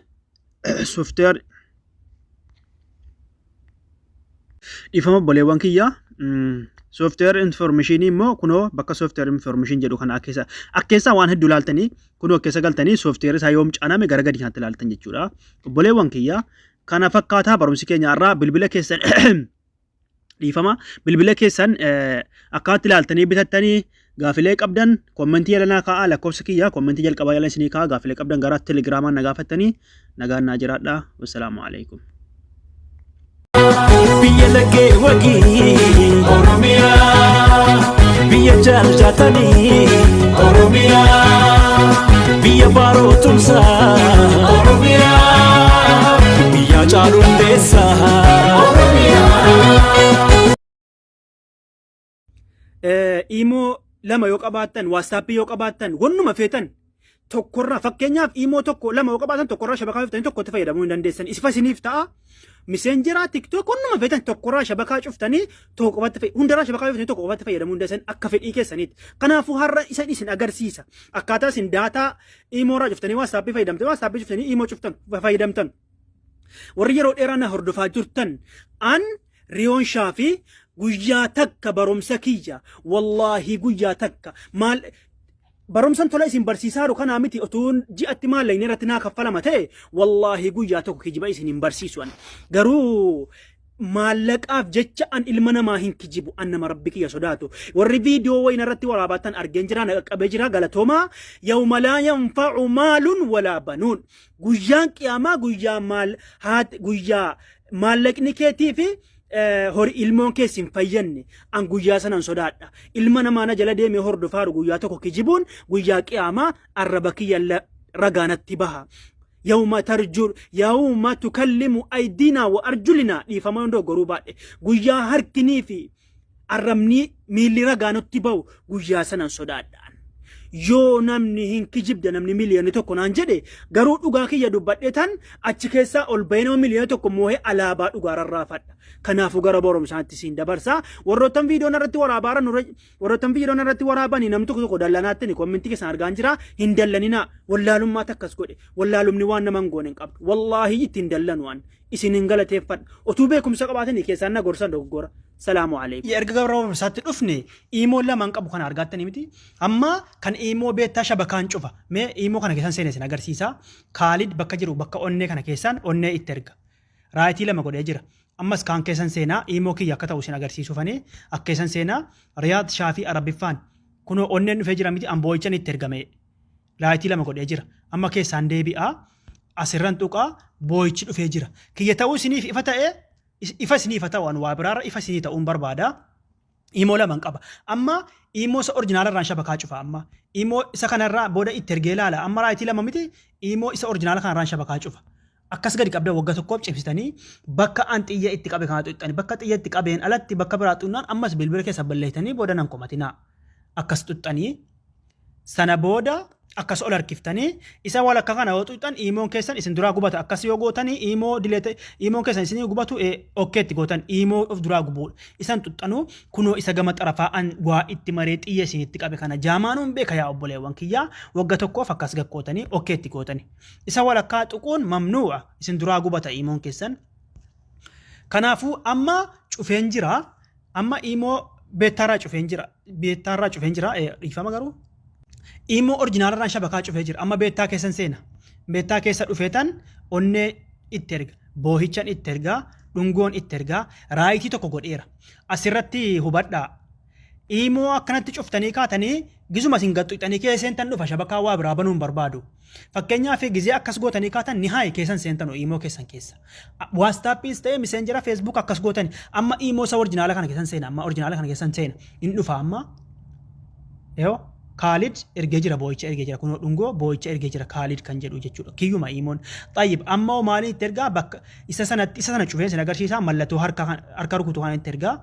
Speaker 2: soofteer dhiifama obboleewwan kiyyaa soofteer infoormeeshinii immoo kunoo bakka soofteer infoormeeshin jedhu kana keessa akkeessaa waan hedduu ilaaltanii kunoo keessa galtanii soofteer isaa yoom caaname gara gadi kanatti ilaaltan jechuudha obboleewwan kiyyaa kana fakkaataa barumsi keenya irraa bilbila keessan dhiifama bilbila keessan akkaatti ilaaltanii bitattanii gaafilee qabdan kommentii yalanaa kaa'aa lakkoofsa kiyya kommentii jalqabaa yalan isinii kaa'aa gaafilee qabdan gara telegiraamaan na gaafattanii nagaan naa jiraadha wassalaamu alaikum.
Speaker 3: biyya laggee wagii oromiyaa biyya jaallatanii oromiyaa biyya baaroo tumsaa oromiyaa. Yaa caalu
Speaker 2: Imoo lama yoo qabaattan, waatsaappii yoo qabaattan, wannuma feetan tokkorraa fakkeenyaaf imoo tokko lama yoo qabaatan tokkorraa shabakaa cuftanii tokkotti fayyadamuu hin dandeessan. Isifa isiniif ta'a. Miseenjeraa tiktook wannuma feetan tokkorraa shabakaa cuftanii tokko qofatti fayyadamu. Hundarraa shabakaa cuftanii tokko qofatti fayyadamuu hin dandeessan akka fedhii keessaniitti. Kanaafuu har'a isan isin agarsiisa. Akkaataa isin daataa Imoo irraa cuftanii waatsaappii fayyadamtanii waatsaappii cuftanii imoo cuftan fayyadamtan. Warri yeroo dheeraa na hordofaa jirtan an riyoon shaafi guyyaa takka barumsa kiyya wallaahi guyyaa takka maal barumsan tola isin barsiisaa jiru kanaa miti otuu ji'atti maallaqni irratti naa kaffalama ta'e wallaahi guyyaa tokko kijiba isin hin barsiisu ani garuu maallaqaaf jecha an ilma namaa hin kijibu an nama rabbi kiyya sodaatu warri viidiyoo wayina irratti waraabaatan argeen jira na qaqqabee jira galatoomaa yawma laa yanfacu maalun walaa banuun guyyaan qiyaamaa guyyaa maal haat guyyaa maallaqni keetii fi eh, hori ilmoon kees hin fayyanne an guyyaa sanan sodaadha ilma namaa na jala deemee hordofaaru guyyaa tokko kijibuun guyyaa qiyaamaa arraba kiyya la- ragaanatti baha Yawma tarjur yawma tukallimu aydina wa arjulina dhiifama yoo dogoggoruu baadhe guyyaa harkinii fi arrabnii miilli ragaa nutti ba'u guyyaa sanan sodaadhaan. Yoo namni hin kijibda namni miliyoonni tokko naan jedhe garuu dhugaa kiyya dubbadhee tan achi keessaa ol bahee nama miliyoona tokko moohee alaabaa dhugaa rarraafadha. Kanaafuu gara boromsaatti siin dabarsaa warroottan viidiyoon irratti waraabaa irra nurra Warroottan viidiyoon irratti waraabani nam tokko tokko dallanaattani kommentii keessan argaan jira hin dallaninaa wallaalummaa takkas godhe wallaalumni waan nama hin goone hin qabdu wallaahi itti hin dallanu waan isin hin galateeffadha otuu beekumsa qabaatani keessaan na gorsan dogoggora salaamu alaikum. Erga gara barumsaatti dhufne iimoo lamaan qabu kana argaattani miti amma kan iimoo beektaa shabakaan cufa mee iimoo kana keessan seenee isin agarsiisa kaalid bakka jiru bakka onnee kana keessaan onnee itti erga Raayitii lama godhee jira. Ammas kaan keessan seenaa iimoo kiyya akka ta'u isin agarsiisuufani akka keessan seenaa Riyaad Shaafii Arabiffaan kunoo onneen dhufee jira miti an boo'ichan itti ergame raayitii lama godhee jira. Amma keessaan deebi'a asirran tuqa boo'ichi dhufee jira. Kiyya ta'uu isiniif ifa ta'e ifa isiniif haa ta'u an waa biraarra ifa isinii ta'uun barbaada. Imoo laman qaba. Amma imoo isa orjinaala irraan shabakaa cufa amma. Imoo isa kana irraa booda itti ergee ilaala. Amma raayitii lama miti imoo isa orjinaala kana irraan shabakaa cufa. Akkas gadi qabda wagga tokkoof cimsitanii bakka an xiyya itti qabe kana xuxxani. Bakka xiyya itti qabeen alatti bakka biraa xunnaan ammas bilbila keessa balleessitanii booda nan komatinaa. Akkas xuxxanii Sana booda akkas ol harkiftanii isa walakka kana yoo tuqxan iimoon keessan isin duraa gubata akkas yoo gootanii iimoo dileete iimoon keessan isinii gubatu okkeetti gootan iimoo of duraa gubuudha isan tuqxanuu kunoo isa gama xarafaa an waa itti maree xiyya isinitti qabe kana jaamaanuun beeka yaa obboleewwan kiyyaa wagga tokkoof akkas gakkootanii okkeetti gootanii isa walakkaa tuquun mamnuu'a isin duraa gubata iimoon keessan kanaafuu amma cufeen jiraa Amma imoo beettaarraa cufeen jira. Beettaarraa cufeen jira. Eh, Dhiifama garuu. Imoo orjinaalarraan shabakaa cufee jira. Amma beettaa keessan seena. Beettaa keessa dhufeetan onnee itti erga. Boohichan itti ergaa. Dhungoon itti ergaa. Raayitii tokko godheera. Asirratti hubadhaa. Imoo akkanatti cuftanii kaatanii gizuma isin gaxxixanii kee seentan dhufa shabakaa waa biraa banuun barbaadu. Fakkeenyaaf gizee akkas gootanii kaatan nihaay keessan seentan oo iimoo keessan keessa. Waastaappiis ta'ee miseenjera feesbuuk akkas gootani amma iimoo isa orjinaala kana keessan seena amma orjinaala kana keessan seena hin dhufa amma yoo kaalid ergee jira boo'icha ergee jira kunoo dhungoo boo'icha ergee jira kaalid kan jedhu jechuudha kiyyuma iimoon xayyib amma hoo maaliin itti ergaa bakka isa sanatti isa sana cufeen sin agarsiisaa mallattoo harka kan- harka rukutu kana itti ergaa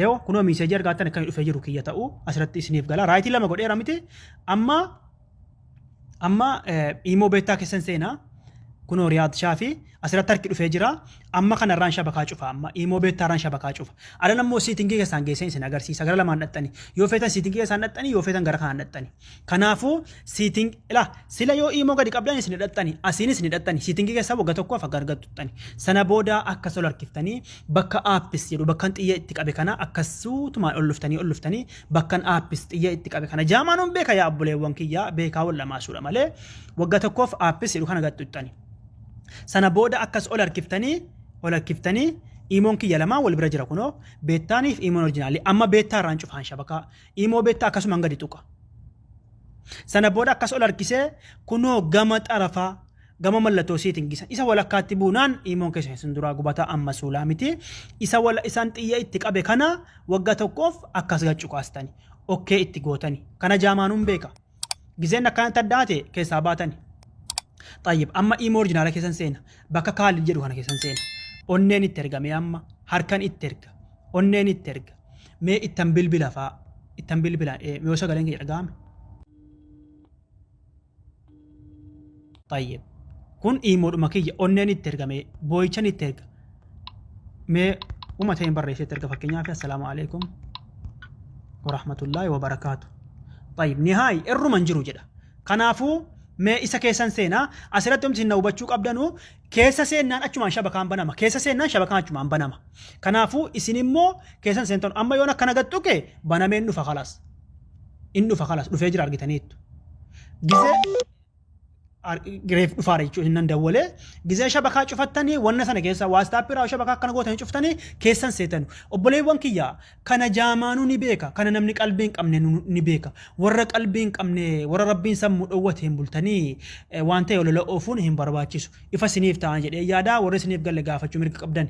Speaker 2: yoo kunoo miiseejii argaatan akkan dhufee jiru kiyya ta'u asirratti isiniif gala raayitii lama godheera miti amma Amma imoo beektaa keessan seenaa kunoo riyaad shaafi asirratti harki dhufee jira amma kana irraan shabakaa cufa amma imoo beektaa irraan shabakaa cufa adan ammoo siitingii keessaan geesseen isin agarsiisa gara lamaan dhaxxani yoo feetan siitingii keessaan dhaxxani yoo feetan gara kanaan dhaxxani kanaafuu siiting ila sila yoo imoo gadi qabdan isin dhaxxani asiinis ni dhaxxani siitingii keessaa wagga tokkoof akka argattu dhaxxani sana booda akka sol harkiftanii bakka aappis jedhu bakkan xiyya itti qabe kana akkasuutumaan ol dhuftanii ol dhuftanii bakkan aappis xiyya itti qabe kana jaamaa nun beeka yaa obboleewwan kiyya beekaa wal dhamaasuudha malee wagga tokkoof aappis jedhu kana gaxxuxxani. Sana booda akkas ol harkiftanii ol harkiftanii iimoon kiyya lamaan wal bira jira kunoo beettaaniif iimoon orjinaalii amma beettaa irraan cufaan shabakaa iimoo beettaa akkasumaan gadi tuqa. Sana booda akkas ol harkisee kunoo gama xarafaa gama mallatoo isiitin gisa isa walakkaatti buunaan iimoon keessa isin duraa gubata amma suulaa miti isa wala isaan xiyya itti qabe kana wagga tokkoof akkas gachu kaastani okkee itti gootani kana jaamaanuun beeka gizeen akkanatti addaate keessaa baatani xayyib amma iimoo orjinaala keessan seena bakka kaalid jedhu kana keessan seena onneen itti ergamee amma harkan itti erga onneen itti erga mee ittan bilbila faa ittan bilbila yoo sagaleen kee dhaga'ame Tayyib. Kun iimoodhuma kiyya onneen itti erga mee boo'ichan itti erga. Mee uma ta'een barreessee itti erga fakkeenyaaf assalaamu alaikum warahmatullaahi wabarakaatu. Tayyib nihaay irruma hin jiru jedha. Kanaafuu mee isa keessan seenaa asirratti omti na hubachuu qabdanu keessa seennaan achumaan shabakaan banama keessa seennaan shabakaan achumaan banama. Kanaafuu isin immoo keessan seentan amma yoon akkana gattuke banameen dhufa kalaas. in dhufa kalas dhufee jira argitaniittu gizee reef dhufaara jechuudha hinnan dawwalee gizee shabakaa cufattanii wanna sana keessa waastaappii irraa shabakaa akkana gootanii cuftanii keessan seetanu obboleewwan kiyya kana jaamaanuu ni beeka kana namni qalbii hin qabne nu- ni beeka warra qalbii hin qabne warra rabbiin sammuu dhowwate hin bultanii eh, waan ta'e olola oofuun hin barbaachisu ifa siniif ta'an jedhee yaadaa warri siniif galle gaafachuu mirga qabdan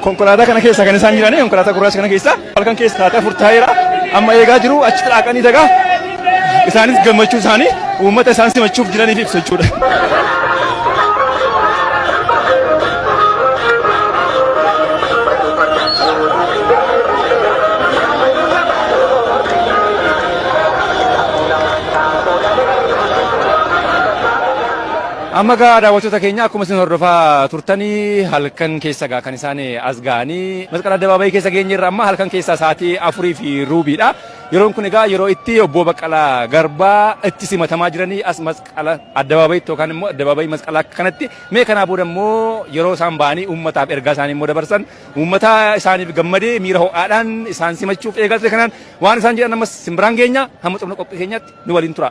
Speaker 4: konkolaataa kana keessa kan isaan jiran konkolaataa gurraacha kana keessa halkan keessa taatee afur taa'eera amma eegaa jiru achi xiraaqanii dagaa Isaanis gammachuu isaanii uummata isaan simachuuf jiraniif ibsu jechuudha. Amma gaa daawwattoota keenya akkuma isin hordofaa turtanii halkan keessa gaa kan isaan as ga'anii masqala addabaabayii keessa geenye irra amma halkan keessa sa'aatii afurii fi ruubiidha. Yeroon kun egaa yeroo itti Obboo Baqqalaa Garbaa itti simatamaa jiranii as masqala addabaabayitti yookaan immoo addabaabayii masqalaa kanatti mee kanaa booda immoo yeroo isaan ba'anii uummataaf ergaa isaanii immoo dabarsan uummata isaaniif gammadee miira ho'aadhaan isaan simachuuf eegaa ture kanaan waan isaan jedhan ammas simbiraan geenya hamma xumura qophii keenyaatti nu waliin tura.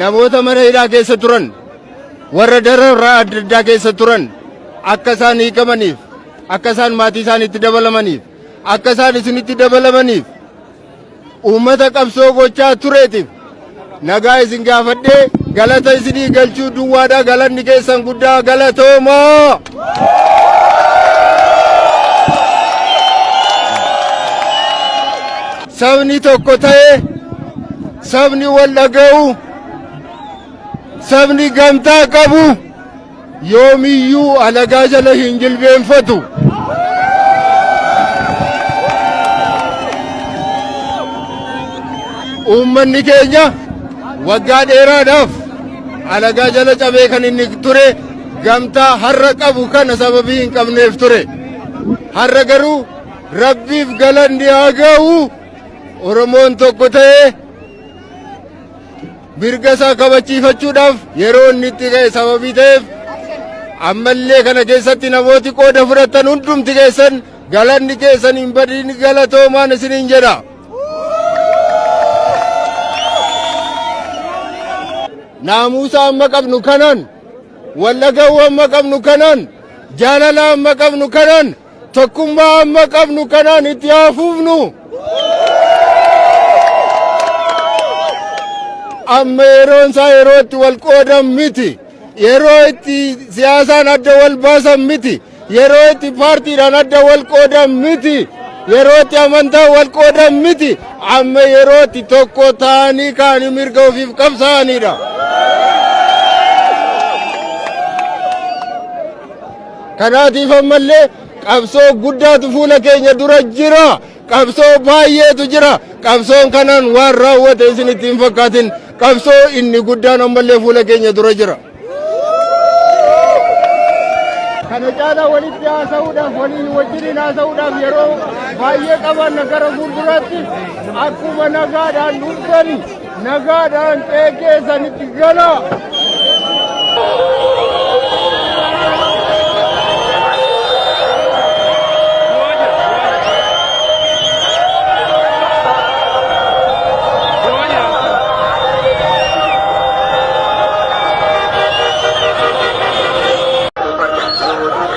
Speaker 5: namoota mana hidhaa keessa turan warra dararraa adda addaa keessa turan akka isaan hiikamaniif akka isaan maatii isaaniitti dabalamaniif akka isaan isinitti dabalamaniif Uummata qabsoo gochaa tureetiif nagaa isin gaafadhee galata isinii galchuu duwwaadha galanni keessan guddaa galatoomaa. Sabni tokko ta'ee sabni wal dhaga'u sabni gamtaa qabu. yoomiyyuu alagaa jala hin jilbeenfatu. Uummanni keenya waggaa dheeraadhaaf alagaa jala cabee kan inni ture gamtaa har'a qabu kana sababii hin qabneef ture. Har'a garuu rabbiif galanni haa ga'u Oromoon tokko ta'ee mirga isaa kabachiifachuudhaaf yeroo inni itti ka'e sababii ta'eef ammallee kana keessatti namooti qooda fudhatan hundumti keessan galanni keessan hin badin galatoomaan isiniin jedha. Naamusa amma qabnu kanan, wallagawwa amma qabnu kanan, jaalala amma qabnu kanan Tokkummaa amma qabnu kanaan itti haa fufnu. Amma yeroon isaa yeroo itti wal qoodan miti. Yeroo itti siyaasaan adda wal baasan miti. Yeroo itti paartiidhaan adda wal qoodan miti. Yeroo itti amantaan wal qoodan miti. Amma yeroo itti tokko ta'anii kaanii mirga ofiif qabsaa'anidha. Kanaatiif ammallee qabsoo guddaatu fuula keenya dura jira. Qabsoo baay'eetu jira. Qabsoon kanaan waan raawwate isin itti hin fakkaatin. Qabsoo inni guddaan ammallee fuula keenya dura jira. Kana caalaa walitti haasa'uudhaaf waliin wajjiniin haasa'uudhaaf yeroo baay'ee qabaanna gara fuulduraatti akkuma nagaadhaan dhuftan Nagaadhaan qe'ee keessanitti galaa!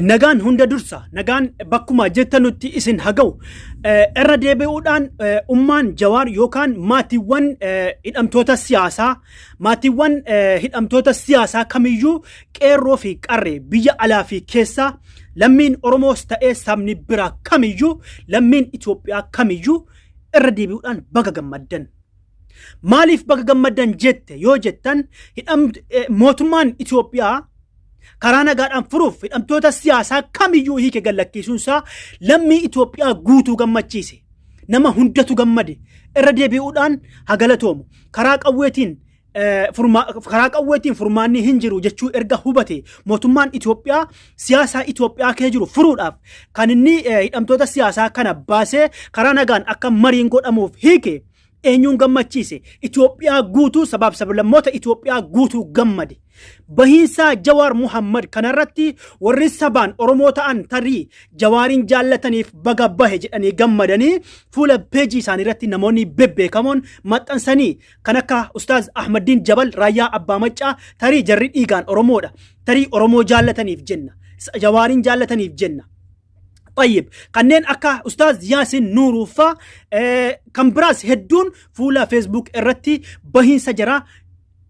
Speaker 2: Nagaan hunda dursa nagaan bakkuma jettanutti isin haga'u irra deebi'uudhaan ummaan jawaar yookaan maatiiwwan hidhamtoota siyaasaa maatiiwwan hidhamtoota siyaasaa kamiyyuu qeerroo fi qarree biyya alaa fi keessaa lammiin Oromoos ta'ee sabni biraa kamiyyuu lammiin Itoophiyaa kamiyyuu irra deebi'uudhaan baga gammaddan Maaliif baga gammaddan jette yoo jettan mootummaan Itoophiyaa karaa nagaadhaan furuuf hidhamtoota siyaasaa kamiyyuu hiike gallakkiisuun isaa lammii Itoophiyaa guutuu gammachiise. Nama hundatu gammade irra deebi'uudhaan hagalatoomu. Karaa qawweetiin karaa qawweetiin furmaanni hin jiru jechuu erga hubate mootummaan Itoophiyaa siyaasaa Itoophiyaa kee jiru furuudhaaf kan inni hidhamtoota siyaasaa kana baasee karaa nagaan akka mariin godhamuuf hiike Eenyuun gammachiise? Itoophiyaa guutuu sabaaf sablammoota Itoophiyaa guutuu gammade. Bahiinsaa Jawaar Muhammad kanarratti warri sabaan Oromoo ta'an tarii Jawaariin jaallataniif baga bahe jedhanii gammadanii fuula peejii isaanii irratti namoonni bebbeekamoon maxxansanii kan akka Ustaaz Ahmaddiin Jabal Raayyaa Abbaa Maccaa tarii jarri dhiigaan Oromoodha. Tarii Oromoo jaallataniif jenna. Jawaariin jaallataniif jenna. طيب kanneen akka ustaaz yaasin nuuruu faa eh, kan biraas hedduun fuula feesbuuk irratti bahiinsa jira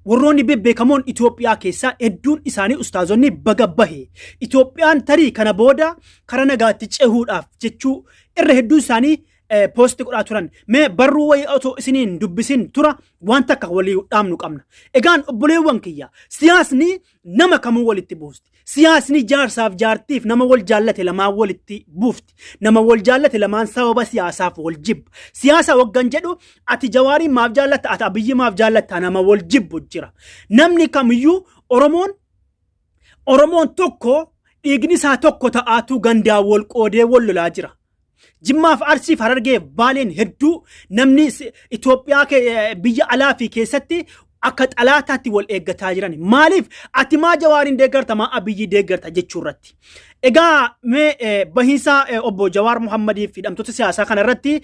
Speaker 2: warroonni bebbeekamoon Itoophiyaa keessaa hedduun isaanii ustaazonni baga bahe Itoophiyaan tarii kana booda kara nagaatti cehuudhaaf jechuu irra hedduun isaanii eh, poosti godhaa turan mee barruu wayii otoo isiniin dubbisin tura waan takka walii dhaamnu qabna egaan obboleewwan kiyya siyaasni nama kamuu walitti buusti. Siyaasni jaarsaaf jaartiif nama wal jaallate lamaan walitti buufti. Nama wal jaallate lamaan sababa siyaasaaf wal jibba. Siyaasa waggan jedhu ati jawaariin maaf jaallatta ati abiyyi maaf jaallatta nama wal jibbu jira. Namni kamiyyuu Oromoon Oromoon tokko dhiigni isaa tokko ta'aatuu gandaan wal qoodee wal lolaa jira. Jimmaaf Arsiif Harargeef Baaleen hedduu namni Itoophiyaa biyya alaa fi keessatti akka xalaataatti wal eeggataa jiran. Maaliif ati maa Jawaariin deeggarta maa Abiyyii deeggarta jechuu irratti. Egaa mee bahiinsa obbo Jawaar Muhammadii fi hidhamtoota siyaasaa kana irratti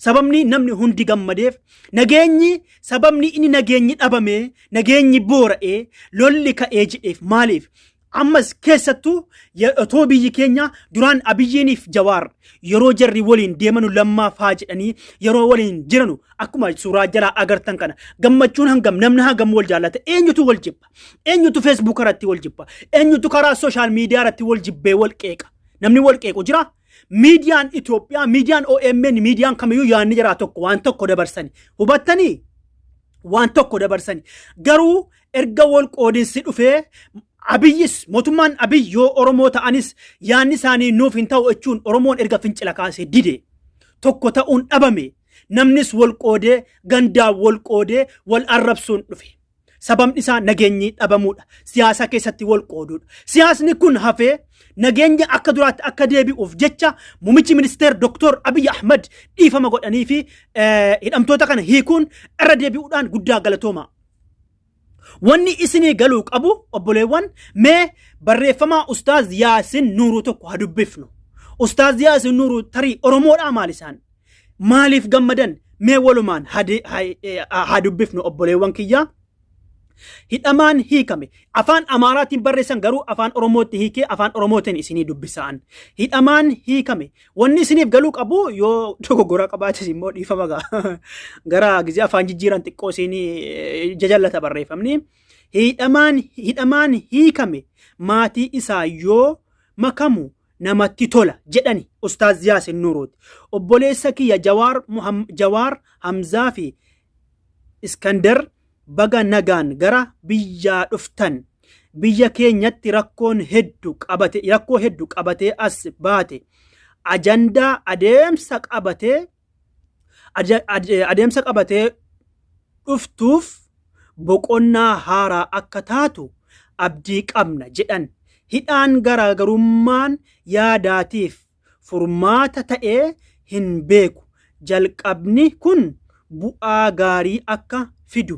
Speaker 2: sababni namni hundi gammadeef nageenyi sababni inni nageenyi dhabamee nageenyi boora'ee lolli ka'ee jedheef maaliif Ammas keessattuu ye- otoo biyyi keenya duraan Abiyyiiniif Jawaar yeroo jarri waliin deemanu lammaa faa jedhanii yeroo waliin jiranu akkuma suuraa jalaa agartan kana gammachuun hangam namni hangam wal jaallata eenyutu wal jibba eenyutu feesbuuka irratti wal jibba eenyutu karaa sooshaal miidiyaa irratti wal jibbee wal qeeqa namni wal qeequ jiraa? Miidiyaan Itoophiyaa, miidiyaan OMN, miidiyaan kamiyyuu yaadni jaraa tokko waan tokko dabarsani. Hubattanii? Waan tokko dabarsani. Garuu erga wal qoodinsi dhufee Abiyyis mootummaan Abiy yoo Oromoo ta'anis yaadni isaanii nuuf hin ta'u jechuun Oromoon erga fincila kaasee dide. Tokko ta'uun dhabame. Namnis wal qoodee gandaan wal qoodee wal arrabsuun dhufe. Sababni isaa nageenyi dhabamuudha. Siyaasa keessatti wal qooduudha. Siyaasni kun hafee nageenya akka duraatti akka deebi'uuf jecha muummichi ministeer Dr. Abiy Ahmad dhiifama godhanii fi eh, hidhamtoota kana hiikuun irra deebi'uudhaan guddaa galatooma. Wanni isinii galuu qabu obboleewwan mee barreeffamaa Ustaaz Yaasin Nuuruu tokko haa dubbifnu. Ustaaz Yaasin Nuuruu tarii Oromoodhaa maal isaan? Maaliif gammadan? Mee walumaan hade- ha- eh, haa dubbifnu obboleewwan kiyyaa. Hidhamaan hiikame. Afaan Amaaraatiin barreessan garuu afaan Oromootti hiikee afaan Oromootiin isinii dubbisaan. Hidhamaan hiikame. Wanni isiniif galuu qabu yoo dogoggora qabaates immoo dhiifama gaa. Gara gizee afaan jijjiiran xiqqoo isinii eh, jajallata barreeffamni. Hidhamaan hidhamaan hiikame maatii isaa yoo makamu namatti tola jedhani ustaaz yaasin nuuruuti obboleessa kiyya jawaar Muham- jawaar hamzaa fi iskandar baga nagaan gara biyyaa dhuftan biyya keenyatti rakkoon heddu qabate rakkoo heddu qabatee as baate ajandaa adeemsa qabatee Aja- ade- adeemsa qabatee dhuftuuf boqonnaa haaraa akka taatu abdii qabna jedhan hidhaan garaagarummaan yaadaatiif furmaata ta'ee hin beeku jalqabni kun bu'aa gaarii akka fidu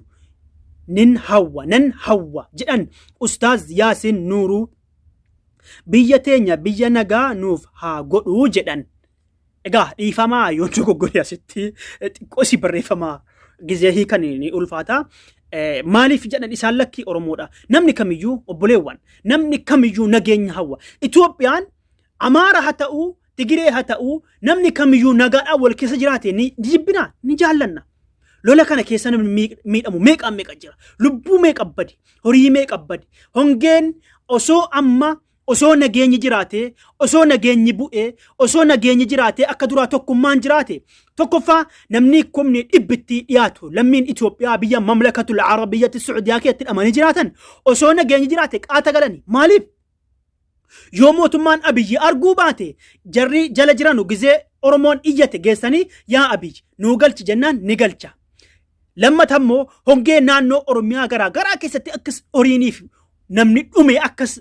Speaker 2: nin hawwa nan hawwa jedhan ustaaz yaasiin nuuruu biyya teenya biyya nagaa nuuf haa godhuu jedhan Egaa dhiifamaa yoo dogoggore asitti xiqqoo si barreeffama gizee hiikan ni ulfaata. Maaliif jedhan isaan lakkii Oromoodha. Namni kamiyyuu obboleewwan namni kamiyyuu nageenya hawwa. Itoophiyaan Amaara haa ta'uu Tigiree haa ta'uu namni kamiyyuu nagaadhaan wal keessa jiraate ni jibbina ni jaallanna. Lola kana keessa namni miidhamu meeqaan meeqa jira. Lubbuu meeqa bade horii meeqa bade hongeen osoo amma Osoo nageenyi jiraatee, osoo nageenyi bu'ee, osoo nageenyi jiraatee akka duraa tokkummaan jiraate. Tokkoffaa namni kumni dhibbitti dhiyaatu lammiin Itoophiyaa biyya mamlakatul Arab biyyatti Suudiyaa keessatti hidhamanii jiraatan osoo nageenyi jiraate qaata galani. Maaliif? Yoo mootummaan Abiyyi arguu baate jarri jala jiranu gizee Oromoon iyyate geessanii yaa Abiyyi nuu galchi jennaan ni galcha. Lammata immoo hongee naannoo Oromiyaa garaa garaa keessatti akkas horiiniif namni dhume akkas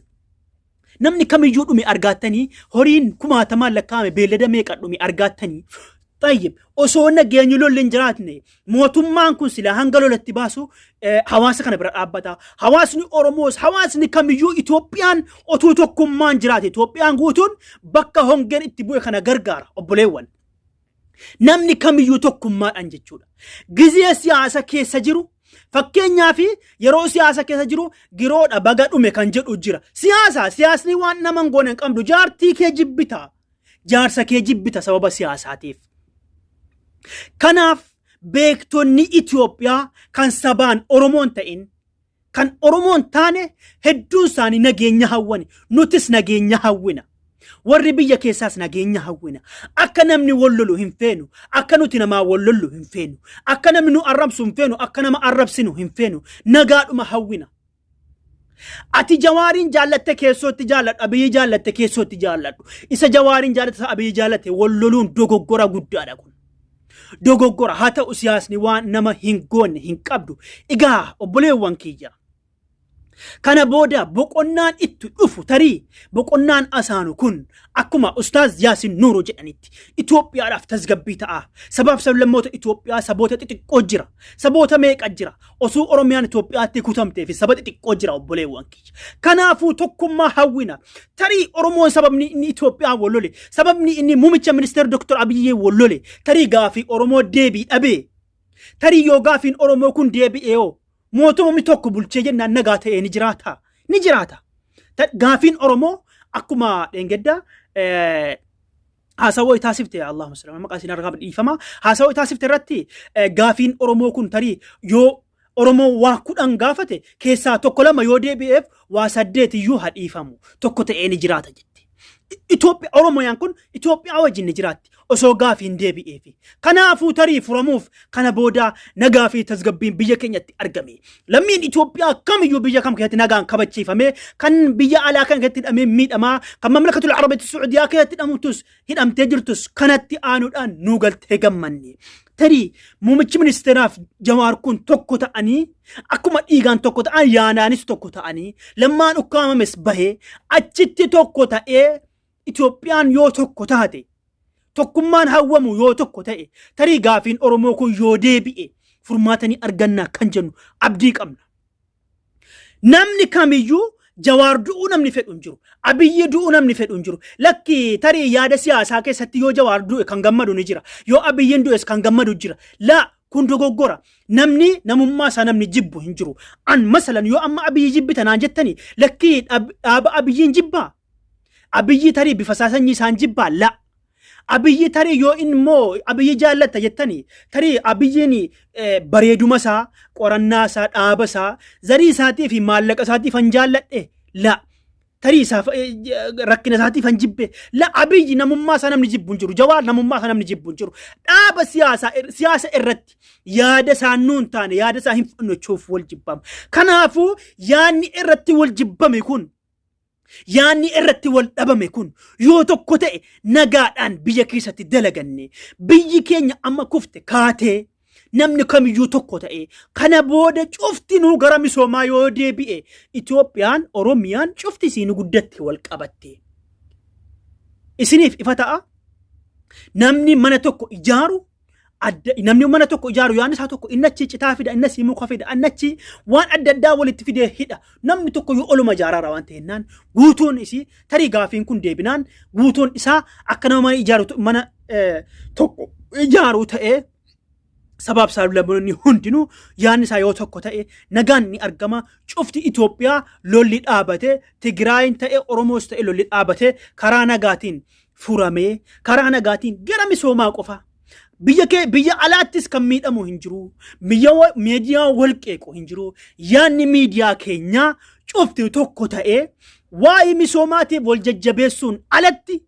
Speaker 2: namni kamiyyuu dhume argaattanii horiin kumaatamaan lakkaa'ame beellada meeqa dhume argaattanii Tayyib osoo nageenyi lolli hin jiraatne mootummaan kun sila hanga lolatti baasu eh, hawaasa kana bira dhaabbata. Hawaasni Oromoos hawaasni kamiyyuu Itoophiyaan otuu tokkummaan jiraate Itoophiyaan guutuun bakka hongeen itti bu'e kana gargaara obboleewwan. Namni kamiyyuu tokkummaadhaan jechuudha. Gizee siyaasa keessa jiru fakkeenyaa fi yeroo siyaasa keessa jiru giroodha baga dhume kan jedhu jira. Siyaasa siyaasni waan nama hin goone hin qabdu jaartii kee jibbita. Jaarsa kee jibbita sababa siyaasaatiif. Kanaaf beektonni Itoophiyaa kan sabaan Oromoon ta'in kan Oromoo hin taane hedduun isaanii nageenya hawwani. Nutis nageenya hawwina. Warri biyya keessaas nageenya hawwina. Akka namni wal lolu hin feenu. Akka nuti namaa wal lollu hin feenu. Akka namni nu arrabsu hin feenu. Akka nama arrabsinu hin feenu. Nagaadhuma hawwina. Ati jawaariin jaallatte keessootti jaalladhu. Abiyyi jaallatte keessootti jaalladhu. Isa jawaariin jaallatte isa abiyyi jaallatte wal loluun dogoggora guddaadha kun. Dogoggora haa ta'u siyaasni waan nama hin goonne hin qabdu. Egaa obboleewwan kiyya. Kana booda boqonnaan itti dhufu tarii boqonnaan asaanu kun akkuma Ustaaz Yaasin Nuuroo jedhanitti Itoophiyaadhaaf tasgabbii ta'a. Sabaaf sablammoota Itoophiyaa saboota xixiqqoo jira. Saboota meeqa jira. Osoo Oromiyaan Itoophiyaatti kutamtee fi saba xixiqqoo jira obboleewwan kiyya. Kanaafuu tokkummaa hawwina. Tarii Oromoon sababni inni Itoophiyaan wal lole, sababni inni muummicha ministeera Dr. Abiyyee wal lole, tarii gaafii Oromoo deebii dhabee. Tarii yoo gaafiin Oromoo kun deebi'ee hoo mootumni tokko bulchee jennaan nagaa ta'ee ni jiraata. Ni jiraata. Ta- Gaafiin Oromoo akkuma dheengaddaa eh, haasawoo taasifte yaa Allaahumma salli maqaa isin argaaf dhiifama haasawoo taasifte irratti eh, gaafiin Oromoo kun tarii yoo Oromoo waa kudhan gaafate keessaa tokko lama yoo deebi'eef waa saddeet iyyuu haa dhiifamu tokko ta'ee ni jiraata jette. Itoophiya Oromooyaan kun Itoophiyaa wajjin ni jiraatti osoo gaafiin deebi'eefi. Kanaafuu tarii furamuuf Kana booda nagaa fi tasgabbiin biyya keenyatti argame. Lammiin Itoophiyaa kamiyyuu biyya kam keessatti nagaan kabachiifame kan biyya alaa kan keessatti hidhamee miidhamaa kan mamlakatul Arabeetti Suudiyaa keessatti hidhamtus hidhamtee jirtus kanatti aanuudhaan nuu galtee gammanne. Tarii muummichi ministeeraaf jawaar kun tokko ta'anii akkuma dhiigaan tokko ta'an yaanaanis tokko ta'anii lammaan ukkaamames bahee achitti tokko ta'ee Itoophiyaan yoo tokko taate, tokkummaan hawwamu yoo tokko ta'e, tarii gaafiin Oromoo kun yoo deebi'e furmaata ni argannaa kan jennu abdii qabna. Namni kamiyyuu Jawaar du'uu namni fedhu hin jiru. Abiyyi du'uu namni fedhu hin jiru. Lakki tarii yaada siyaasaa keessatti yoo Jawaar du'e kan gammadu ni jira. Yoo Abiyyiin du'es kan gammadu jira. Laa kun dogoggora. Namni namummaa isaa namni jibbu hin jiru. An masalan yoo amma Abiyyi jibbita naan jettani lakki dhaaba Abiyyiin jibbaa? Abiyyi tarii bifa isaa sanyii isaan jibbaa la. Abiyyi tarii yoo inni immoo abiyyi jaallatta jettani tarii abiyyiin eh, bareeduma isaa qorannaa isaa dhaaba isaa zarii isaatii fi maallaqa isaatii fan jaalladhe la. Tarii isaaf eh, j- rakkina isaatii fan jibbe la abiyyi namummaa isaa namni jibbu hin jiru jawaar namummaa isaa namni jibbu hin jiru dhaaba siyaasaa ir- siyaasa irratti yaada isaa nuu hin taane yaada isaa hin fudhannechuuf wal jibbama. Kanaafuu yaadni irratti wal jibbame kun Yaanni irratti wal dhabame kun yoo tokko ta'e nagaadhaan biyya keessatti dalaganne biyyi keenya amma kufte kaatee namni kamiyyuu tokko ta'e kana booda cufti nuu gara misoomaa yoo deebi'e Itoophiyaan Oromiyaan cufti isiin guddatte wal qabatte. Isiniif ifa ta'a namni mana tokko ijaaru Adda, namni mana tokko ijaaru yaadni isaa tokko inni achi citaa fida inni asii muka fida inni achi waan adda addaa walitti fidee hidha namni tokko yoo oluma ijaaraara waan ta'ennaan guutuun isii tarii gaafiin kun deebinaan guutuun isaa akka nama mana ijaaru to- mana eh, tokko ijaaru ta'ee sabaaf saaxilamtoonni hundinuu yaadni isaa yoo tokko ta'e nagaan ni argama cufti Itoophiyaa lolli dhaabate Tigraayin ta'e Oromoos ta'e lolli dhaabate karaa nagaatiin furamee karaa nagaatiin gara misoomaa qofaa biyya kee biyya alaattis kan miidhamu hin jiru biyya wa- miidiyaa wal qeequ hin jiru yaadni miidiyaa keenyaa cufti tokko ta'ee waa'ee misoomaatiif wal jajjabeessuun alatti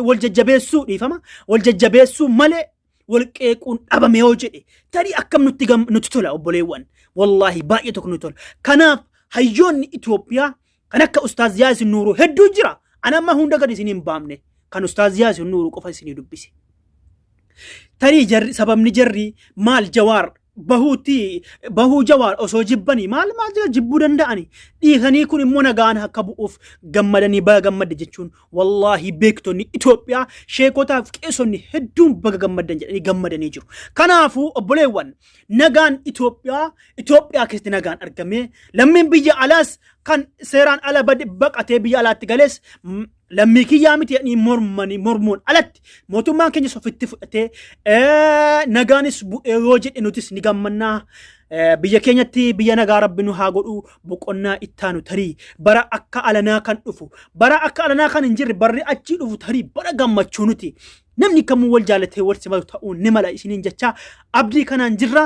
Speaker 2: wal jajjabeessuu dhiifama wal jajjabeessuu malee wal qeequun dhabame yoo jedhe tarii akkam nutti gam- nutti tola obboleewwan wallaahi baay'ee tokko nutti tola kanaaf hayyoonni Itoophiyaa kan akka ustaaz Yaasin Nuuruu hedduu jira ana amma hunda gad isin hin baamne kan ustaaz Yaasin Nuuruu qofa isinii dubbise tarii jarri sababni jarri maal jawaar bahuutti bahuu jawaar osoo jibbanii maal maal jira jibbuu danda'ani dhiisanii kun immoo nagaan akka bu'uuf gammadanii baga gammadde jechuun wallaahi beektonni Itoophiyaa sheekotaaf qeesonni hedduun baga gammaddan jedhanii gammadanii jiru. Kanaafuu obboleewwan nagaan Itoophiyaa Itoophiyaa keessatti nagaan argamee lammiin biyya alaas kan seeraan ala bade- baqatee biyya alaatti galees m- lammii kiyyaa miti jedhanii mormanii mormuun alatti mootummaan keenyas ofitti fudhatee eh, nagaanis bu'ee yoo jedhe nutis ni gammannaa. Eh, Biyya keenyatti biyya nagaa rabbi nu haa godhu boqonnaa ittaanu tarii bara akka alanaa kan dhufu bara akka alanaa kan hin jirre barri achii dhufu tarii bara gammachuu nuti namni kamuu wal jaalatee wal simatu ta'uu ni mala isiniin jechaa abdii kanaan jirra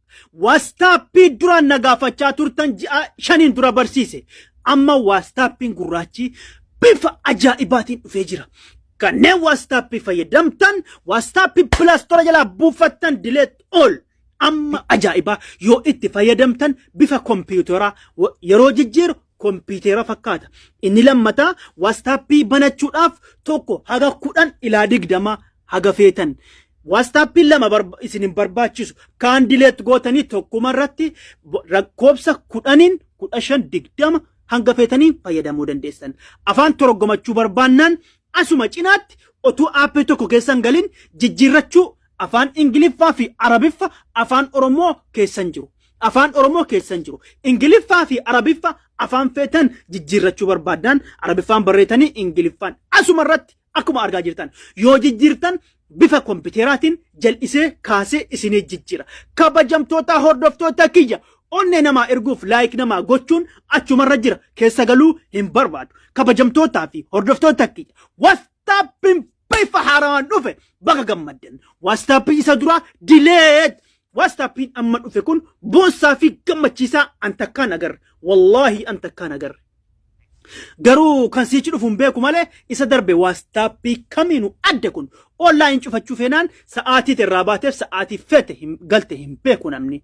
Speaker 2: Waastaappii duraan na gaafachaa turtan ji'a shaniin dura barsiise. Amma waastaappiin gurraachi bifa ajaa'ibaatiin dhufee jira. Kanneen waastaappii fayyadamtan waastaappii pilaastora jalaa buufattan dileet ol. Amma ajaa'ibaa yoo itti fayyadamtan bifa kompiitaraa yeroo jijjiiru kompiitera fakkaata. Inni lammataa waastaappii banachuudhaaf tokko haga kudhan ilaa digdama haga feetan. Waastaappiin lama isin hin barbaachisu. Kaan dileet gootanii tokkuma irratti lakkoofsa kudhaniin kudha shan digdama hanga feetanii fayyadamuu dandeessan. Afaan toroggomachuu barbaannaan asuma cinaatti otuu aappii tokko keessan galin jijjiirrachuu afaan Ingiliffaa fi Arabiffa afaan Oromoo keessan jiru. Afaan Oromoo keessa hin jiru. Ingiliffaa fi Arabiffa afaan feetan jijjiirrachuu barbaaddaan Arabiffaan barreetanii Ingiliffaan asuma irratti akkuma argaa jirtan yoo jijjiirtan bifa kompiiteraatiin jal'isee kaasee isinii jijjiira. Kabajamtoota hordoftoota kiyya onnee namaa erguuf laayik namaa gochuun achumarra jira keessa galuu hin barbaadu. Kabajamtootaa fi hordoftoota kiyya wastaappiin bifa haaraan dhufe baga gammaddan waastaappiin isa duraa dileet waastaappiin amma dhufe kun boonsaa fi gammachiisaa an takkaan agarre wallaahi an takkaan agarre garuu kan siichi dhufuun beeku malee isa darbe waastaappii kamiinu adda kun oonlaayin cufachuu feenaan sa'aatii irraa baateef sa'aatii feete hin- galte hin beeku namni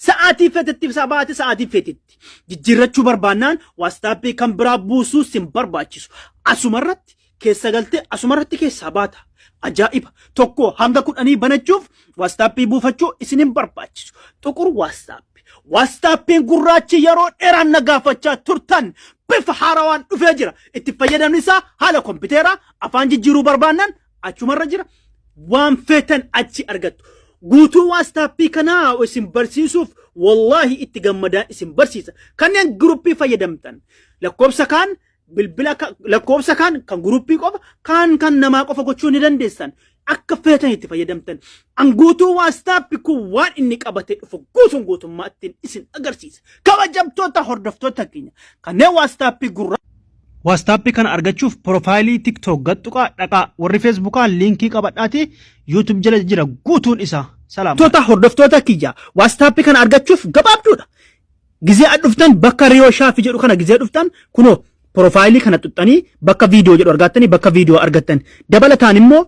Speaker 2: Sa'aatii feetetti ibsaa baate sa'aatii feetetti. Jijjiirrachuu barbaannaan waastaappii kan biraa buusuu sin barbaachisu. Asumarratti keessa galtee asumarratti keessaa baata. Ajaa'iba! Tokko hanga kudhanii banachuuf waastaappii buufachuu isin hin barbaachisu. Xuqur waastaappi. Waastaappiin gurraachi yeroo dheeraan na gaafachaa turtan bifa haarawaan dhufee jira. Itti fayyadamni isaa haala kompiiteeraa afaan jijjiiruu barbaannan achumarra jira waan feetan achi argattu guutuu waastaappii kanaa isin barsiisuuf wallaahi itti gammadaa isin barsiisa kanneen guruppii fayyadamtan lakkoofsa kaan bilbila ka- lakkoofsa kaan kan guruppii qofa kaan kan namaa qofa gochuu ni dandeessan akka feetan itti fayyadamtan an guutuu waastaappii kun waan inni qabatee dhufu guutuun guutummaa ittiin isin agarsiisa kabajamtoota hordoftoota keenya kanneen waastaappii gurra Waastaappii kana argachuuf porofaayilii TikTok gad tuqaa dhaqaa. Warri Feesbuukaa liinkii qabadhaati YouTube jala jira guutuun isaa. Salaam. Toota hordoftoota kiyya waastaappii kana argachuuf gabaabduudha. Gizee ad dhuftan bakka Riyoo Shaafi jedhu kana gizee dhuftan kunoo porofaayilii kana xuxxanii bakka viidiyoo jedhu argattanii bakka viidiyoo argattan. Dabalataan immoo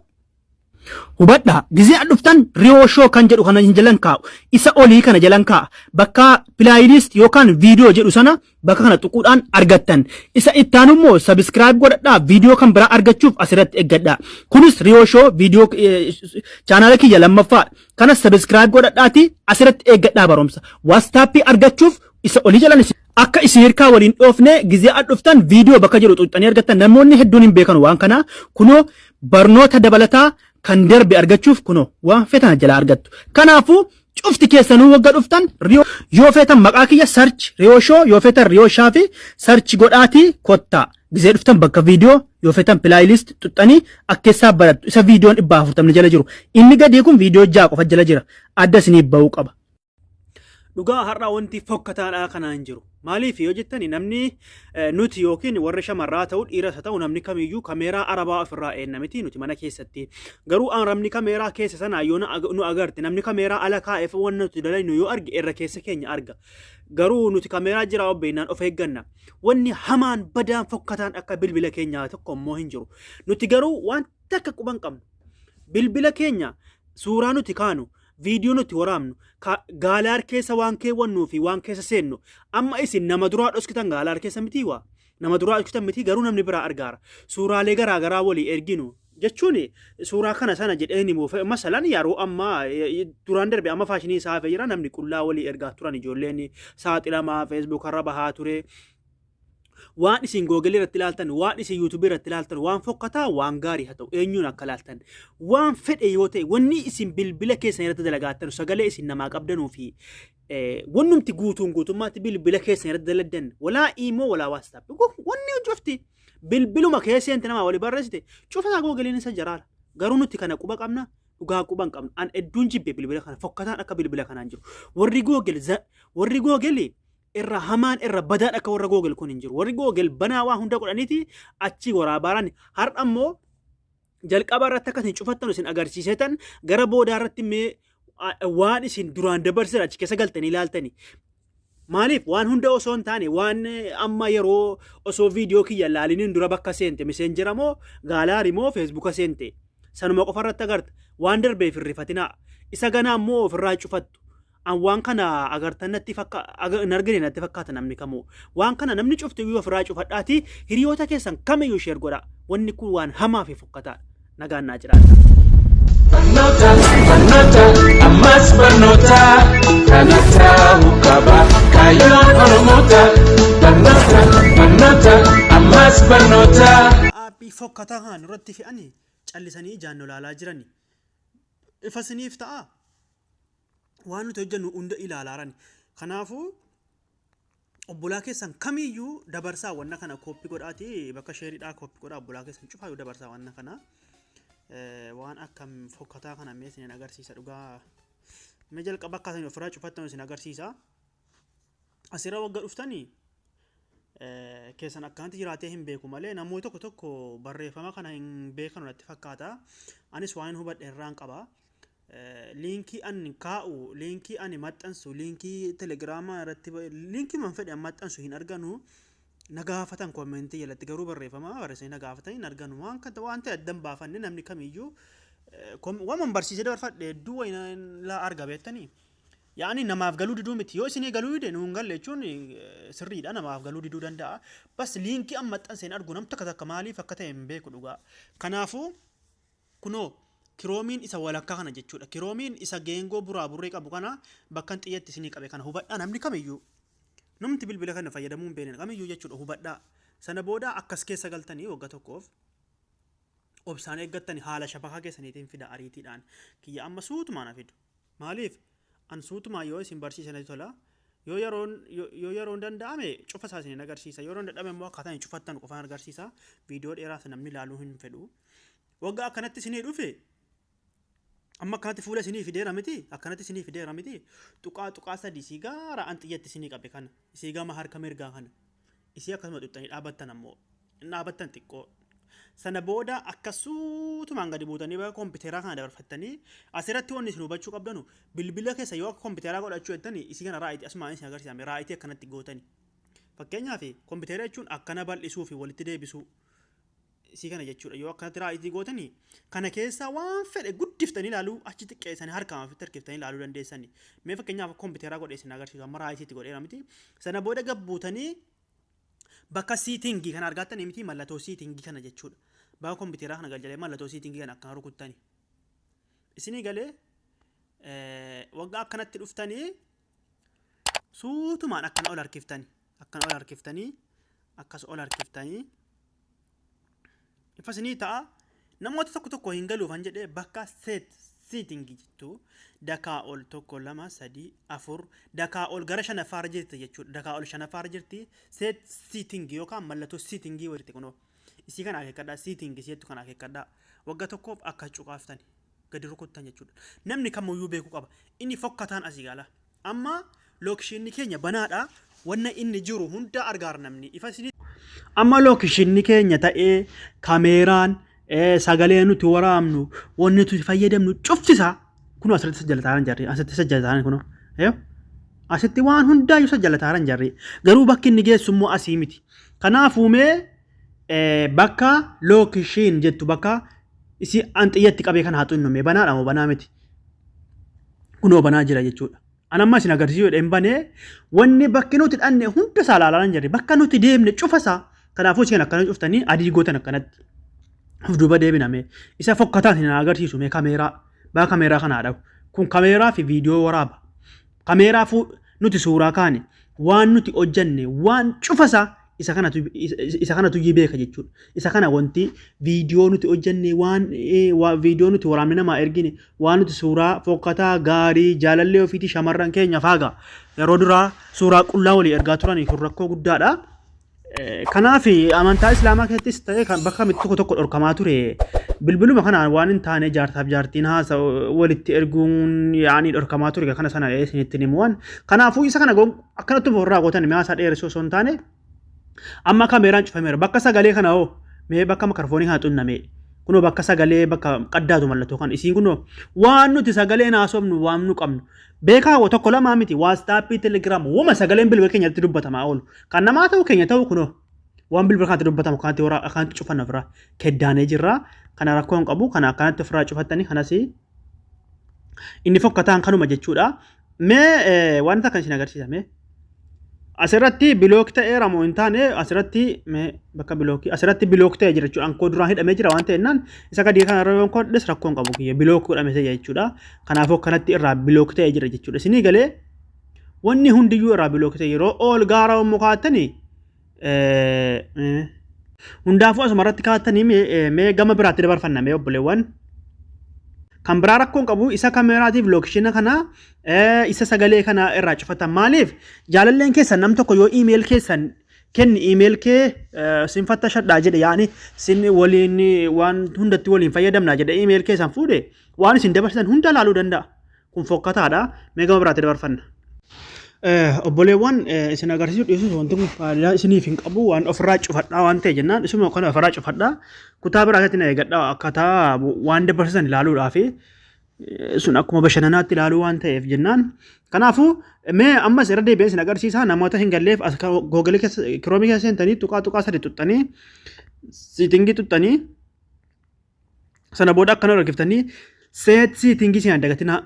Speaker 2: Hubadhaa gizee an dhuftan riyoo shoo kan jedhu kana hin jalan kaa'u isa olii kana jalan kaa'a bakka playlist yookaan viidiyoo jedhu sana bakka kana tuquudhaan argattan isa ittaanu immoo sabiskiraayib godhadhaa viidiyoo kan biraa argachuuf asirratti eeggadhaa kunis riyoo shoo viidiyoo chaanaala kiyya lammaffaa kanas sabiskiraayib godhadhaati asirratti eeggadhaa barumsa waastaappii argachuuf isa olii jalan isin Akka isin hirkaa wal hin dhoofne gizee ad dhuftan viidiyoo bakka jedhu xuxxanii argattan namoonni hedduun hin beekan waan kana kunoo barnoota dabalataa kan darbe argachuuf kunoo waan fetan jala argattu. Kanaafuu cufti keessanuu wagga dhuftan riyoo yoo feetan maqaa kiyya sarchi riyoo shoo yoo feetan riyoo shaa fi sarchi godhaatii kottaa. Gizee dhuftan bakka viidiyoo yoo feetan pilaayilist xuxxanii akkeessaa barattu isa viidiyoon dhibba afurtamni jala jiru. Inni gadii kun viidiyoo ja'a qofa jala jira. Adda isiniif ba'uu qaba. Dhugaa har'aa wanti fokkataadhaa kanaa hin jiru. Maaliif yoo jettani namni eh, nuti yookiin warri shamarraa ta'u dhiiras haa ta'u namni kamiyyuu kameeraa arabaa ofirraa eenna miti nuti mana keessatti. Garuu aan namni kameeraa keessa sanaa yoo na ag- nu agarte namni kameeraa ala kaa'eef waan nuti dalaynu yoo arge irra keessa keenya arga. Garuu nuti kameeraa jiraa obbeennaan of eegganna. Wanni hamaan badaan fokkataan akka bilbila keenyaa tokko immoo hin jiru. Nuti garuu waan takka quban qabnu. bilbila keenya suuraa nuti kaanu viidiyoo nuti waraabnu ka- gaalaar keessa waan keewwannuu fi waan keessa seennu amma isin nama duraa dhoskitan gaalaar keessa mitii waa nama duraa dhoskitan mitii garuu namni biraa argaara suuraalee garaa garaa walii erginu jechuun suuraa kana sana jedhee ni muufe masalan yeroo ammaa eh, eh, duraan darbe amma faashinii isaa hafee jira namni qullaa walii ergaa turan ijoolleen saaxilamaa feesbuukarra bahaa ture waan isin google irratti ilaaltan waan isin yuutubii irratti ilaaltan waan fokkataa waan gaarii haa ta'u eenyuun akka ilaaltan waan fedhe yoo ta'e wanni isin bilbila keessan irratti dalagaattan sagalee isin namaa qabdanuu fi wannumti guutuun guutummaatti bilbila keessan irratti daladdan walaa iimoo walaa waastaap wanni cufti bilbiluma keesseenti namaa wali barreessite cufataa googiliin isa jaraala garuu nuti kana quba qabna dhugaa quban qabna an edduun jibbe bilbila kana fokkataan akka bilbila kanaan jiru warri googil warri googilii irra hamaan irra badaan akka warra googel kun hin jiru. Warri googel banaa waa hunda godhaniiti achii waraabaaran har'a immoo jalqaba irratti akka isin cufattan isin agarsiisetan gara boodaa irratti mee waan isin duraan dabarsitan achi keessa galtanii ilaaltanii. Maaliif waan hunda osoo hin taane waan amma yeroo osoo viidiyoo kiyya laaliniin dura bakka seente miseenjera moo gaalaari moo feesbuuka seente sanuma qofa irratti agarta waan darbeef hin rifatinaa isa ganaa immoo ofirraa cufattu An waan kana agartan natti fakka aga- hin argine natti fakkaata namni kamuu. Waan kana namni cufti iyyuu ofirraa cufadhaati hiriyoota keessan kamiyyuu sheer godha. Wanni kun waan hamaa fi fokkataadha. Nagaan naa jiraadha. Barnoota, barnoota,
Speaker 3: ammas barnoota. Kana ta'uu qaba kaayyoon Oromoota. Barnoota, barnoota, ammas barnoota. Aabbii fokkataa
Speaker 2: haa nurratti fe'anii callisanii ijaan nu laalaa jirani. Ifa siniif ta'a. waan nuti hojjennu hunda ilaalaarani. Kanaafuu obbolaa keessan kamiyyuu dabarsaa wanna kana kooppi godhaati bakka sheeridhaa kooppi godhaa obbolaa keessan cufaayyuu dabarsaa wanna kana Eh, waan akka fokkataa kana mee isin agarsiisa dhugaa mee jalqaba akka isin ofirraa cufattan isin agarsiisa asirra wagga dhuftanii eh, keessan akkanatti jiraatee hin beeku malee namoota tokko tokko barreeffama kana hin beekanu natti fakkaata anis waan hin hubadhe irraan qaba liinkii an kaa'u liinkii ani maxxansu liinkii telegiraamaa irratti liinkii man fedhe an maxxansu hin arganu na gaafatan koomentii jalatti garuu barreeffama barreessanii na gaafatan hin arganu waan kan waan ta'e addan baafanne namni kamiyyuu waman barsiisee dabarfadhe hedduu wayina laa arga beektanii yaani namaaf galuu diduu miti yoo isinii galuu dide nuun galle jechuun sirriidha namaaf galuu diduu danda'a bas liinkii an maxxanse hin argu nam takka takka maaliif akka ta'e hin beeku dhugaa kanaafuu Kunoo, kiroomiin isa walakkaa kana jechuu dha. Kiroomiin isa geengoo buraaburree qabu kana bakkan xiyya itti isinii qabe kana hubadhaa namni kamiyyuu. Namti bilbila kana fayyadamuu hin beekne kamiyyuu jechuu dha hubadhaa. Sana booda akka as keessa galtanii wagga tokkoof obsaan eeggattani haala shabakaa keessaniitiin fida ariitiidhaan. Kiyya amma suutumaan haa fidu. Maaliif? An suutumaan yoo isin barsiise natti tola. Yoo yeroon, yo- yoo yeroon danda'ame cufa isaa isinin agarsiisa. Yoo yeroon dadhabe immoo akkaataa hin cufattan qofaan agarsiisa. Viidiyoo dheeraas namni ilaaluu hin fedhu. Waggaa akkanatti isinii dhufe amma akkanatti fuula isinii fideera miti akkanatti isinii fideera miti tuqaa tuqaa sadii sii gaara an xiyyatti isinii qabe kana sii gama harka mirgaa kana Isii akkasuma xuxxanii dhaabattan ammoo hin dhaabattan xiqqoo. Sana booda akka suutumaan gadi buutanii bakka kompiitaraa kana dabarfattanii asirratti wanni isin hubachuu qabdanu bilbila keessa yoo akka kompiitaraa godhachuu jettani isii kana raayitii asumaan isin agarsiisame raayitii akkanatti gootani. Fakkeenyaaf kompiitara jechuun akkana bal'isuu fi walitti deebisuu isii kana jechuudha yoo akkanatti raayizii gootanii kana keessaa waan fedhe guddiftanii ilaaluu achi xiqqeessanii harkaan ofitti harkiftanii ilaaluu dandeessanii mee fakkeenyaaf kompiiteraa godhee isin agarsiisu amma raayisiitti godheera miti sana booda gabbuutanii bakka siitingii kana argattanii miti mallattoo siitingii kana jechuudha bakka kompiiteraa kana galchalee mallattoo siitingii kana akkana rukuttanii isinii galee waggaa akkanatti dhuftanii suutumaan akkana ol harkiftani akkana ol harkiftanii akkas ol harkiftanii ifa isinii ta'a namoota tokko tokko hin galuufan jedhee bakka seet siitingi jettu dakaa ol tokko lama sadii afur dakaa ol gara shanaffaarra jirti jechuudha dakaa ol shanaffaarra jirti seet siitingi yookaan mallattoo siitingii walitti kunoo Isii kana akeekkadhaa, seating isii jettu kana akeekkadhaa. Wagga tokkoof akka cuqaaftan, gadi rukuttan jechuudha. Namni kamuyyuu beekuu qaba. Inni fokkataan asii gaala. Amma lookishinni keenya banaadha. Wanna inni jiru hundaa argaar namni. Ifa isinii Amma lookishinni keenya ta'ee kameeraan eh, sagalee nuti waraabnu, wanni nuti fayyadamnu cufti isaa Kunoo asirratti isa jalataaran jarri. Asitti isa jalataaran kunoo. Yoo? Asitti waan hundaayyuu isa jalataaran jarri. Garuu bakki inni geessu immoo asii miti. Kanaafuu mee eh, bakka lookishiin jettu bakka isii an xiyyatti qabee kana haa xinnume. Banaadha moo banaa miti? Kunoo banaa jira jechuudha. An amma isin agarsiisuu jedheen banee wanni bakki nuti dhanne hunda isaa ilaalaa hin jirre bakka nuti deemne cufa isaa kanaafuu isin akkana cuftanii adii gootan akkanatti of duuba deebiname isa fokkataan isin agarsiisu mee kameeraa baa kameeraa kana dhabu kun kameeraa fi viidiyoo waraaba kameeraa fuu nuti suuraa kaane waan nuti hojjenne waan cufa isaa isa kanatu isa kanatu iyyuu beeka jechuudha. Isa kana wanti viidiyoo nuti hojjenne waan eh, waa- viidiyoo nuti waraabne namaa ergine waan nuti suuraa fokkataa gaarii jaalallee ofiitii shamarran keenya faaga yeroo duraa suuraa qullaa walii ergaa turanii kun rakkoo guddaadha. Eh, Kanaaf amantaa islaamaa keessattis ta'ee kan bakka mitti tokko tokko dhorkamaa ture bilbiluma kanaan waan hin taane jaarsaaf jaartiin haasa walitti erguun yaa'anii dhorkamaa ture kana sana isinitti himuwan kanaafuu isa kana gon- Akkanatti of irraa gootan mi'aasaa dheeressuu osoo hin taane amma kameeraan cufameera bakka sagalee kana hoo mee bakka makarfoonii kana xunnamee kunoo bakka sagalee bakka qaddaatu mallattoo kan isiin kunoo waan nuti sagaleen haasofnu waan nu qabnu beekaa hoo tokko lamaa miti waastaappii telegiraam wama sagaleen bilbila keenyatti dubbatamaa oolu kan namaa ta'u keenya ta'u kunoo waan bilbila kanatti dubbatamu kanatti warra akkanatti cufanna ofirraa keddaanee jirra kana rakkoo hin qabu kana akkanatti ofirraa cufattanii kanas inni fokkataan kanuma jechuudha Mee wanta kan isin agarsiisa mee. Asirratti bilook ta'eera moo hin taane asirratti mee bakka bilookii asirratti bilook ta'e jira jechuudha. Ankoo duraan hidhamee jira waan ta'ennaan isa gadii kana irra yoon kodhes rakkoon qabu kiyya bilook godhame ta'e jechuudha. Kanaafuu kanatti irraa bilook ta'e jira jechuudha. Isinii galee wanni hundiyyuu irraa bilook ta'e yeroo ol gaara yommuu kaattanii Hundaafuu asuma irratti kaatanii mee gama biraatti dabarfanna mee obboleewwan. Kan biraa rakkoon qabu isa kameeraatiif lookishina kana isa sagalee kana irraa cufatan maaliif jaalalleen keessan nam tokko yoo iimeel keessan kenni iimeel kee sin fattashadhaa jedhe yaani sin waliin waan hundatti waliin fayyadamna jedhe iimeel keessan fuudhe waan isin dabarsitan hunda laaluu danda'a. kun fokkataadha mee gama biraatti dabarfanna. Obboleewwan isin agarsiisuu dhiisuus wanti kun faayidaa isiniif hin qabu waan ofirraa cufadhaa waan ta'e jennaan isuma kana ofirraa cufadhaa kutaa biraa keessatti na eegadhaa akkaataa waan dabarsisan ilaaluudhaa fi sun akkuma bashannanaatti ilaaluu waan ta'eef jennaan kanaafuu mee ammas irra deebi'ee isin agarsiisaa namoota hin galleef as googilee keessa kiroomii keessa seentanii tuqaa tuqaa sadii tuqxanii siitingii tuqxanii sana booda akkana rakkiftanii seet siitingii siin dagatinaa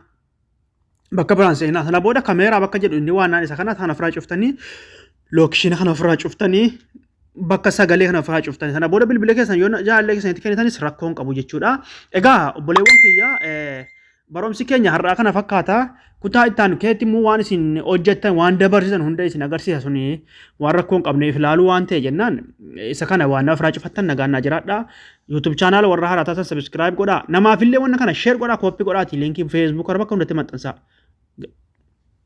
Speaker 2: bakka biraan seenaa sana booda kameeraa bakka jedhu inni waanaan isa kana sana ofirraa cuftanii lookishiina kana ofirraa cuftanii bakka sagalee kana ofirraa cuftanii sana booda bilbila keessan yoo jaallee keessanitti kennitanis rakkoon qabu jechuudha. Egaa obboleewwan kiyyaa Barumsi keenya har'aa kana fakkaata. Kutaa itti aanu keessatti immoo waan isin hojjettan waan dabarsitan hunda isin agarsiisa suni waan rakkoo hin qabneef ilaaluu waan ta'e jennaan isa kana waan naaf irraa cufattan nagaan naa jiraadha. YouTube channel warra haaraa taatan subscribe godha. Namaaf illee wanna kana share godha, copy godhaati linkii Facebook irra bakka hundatti maxxansaa.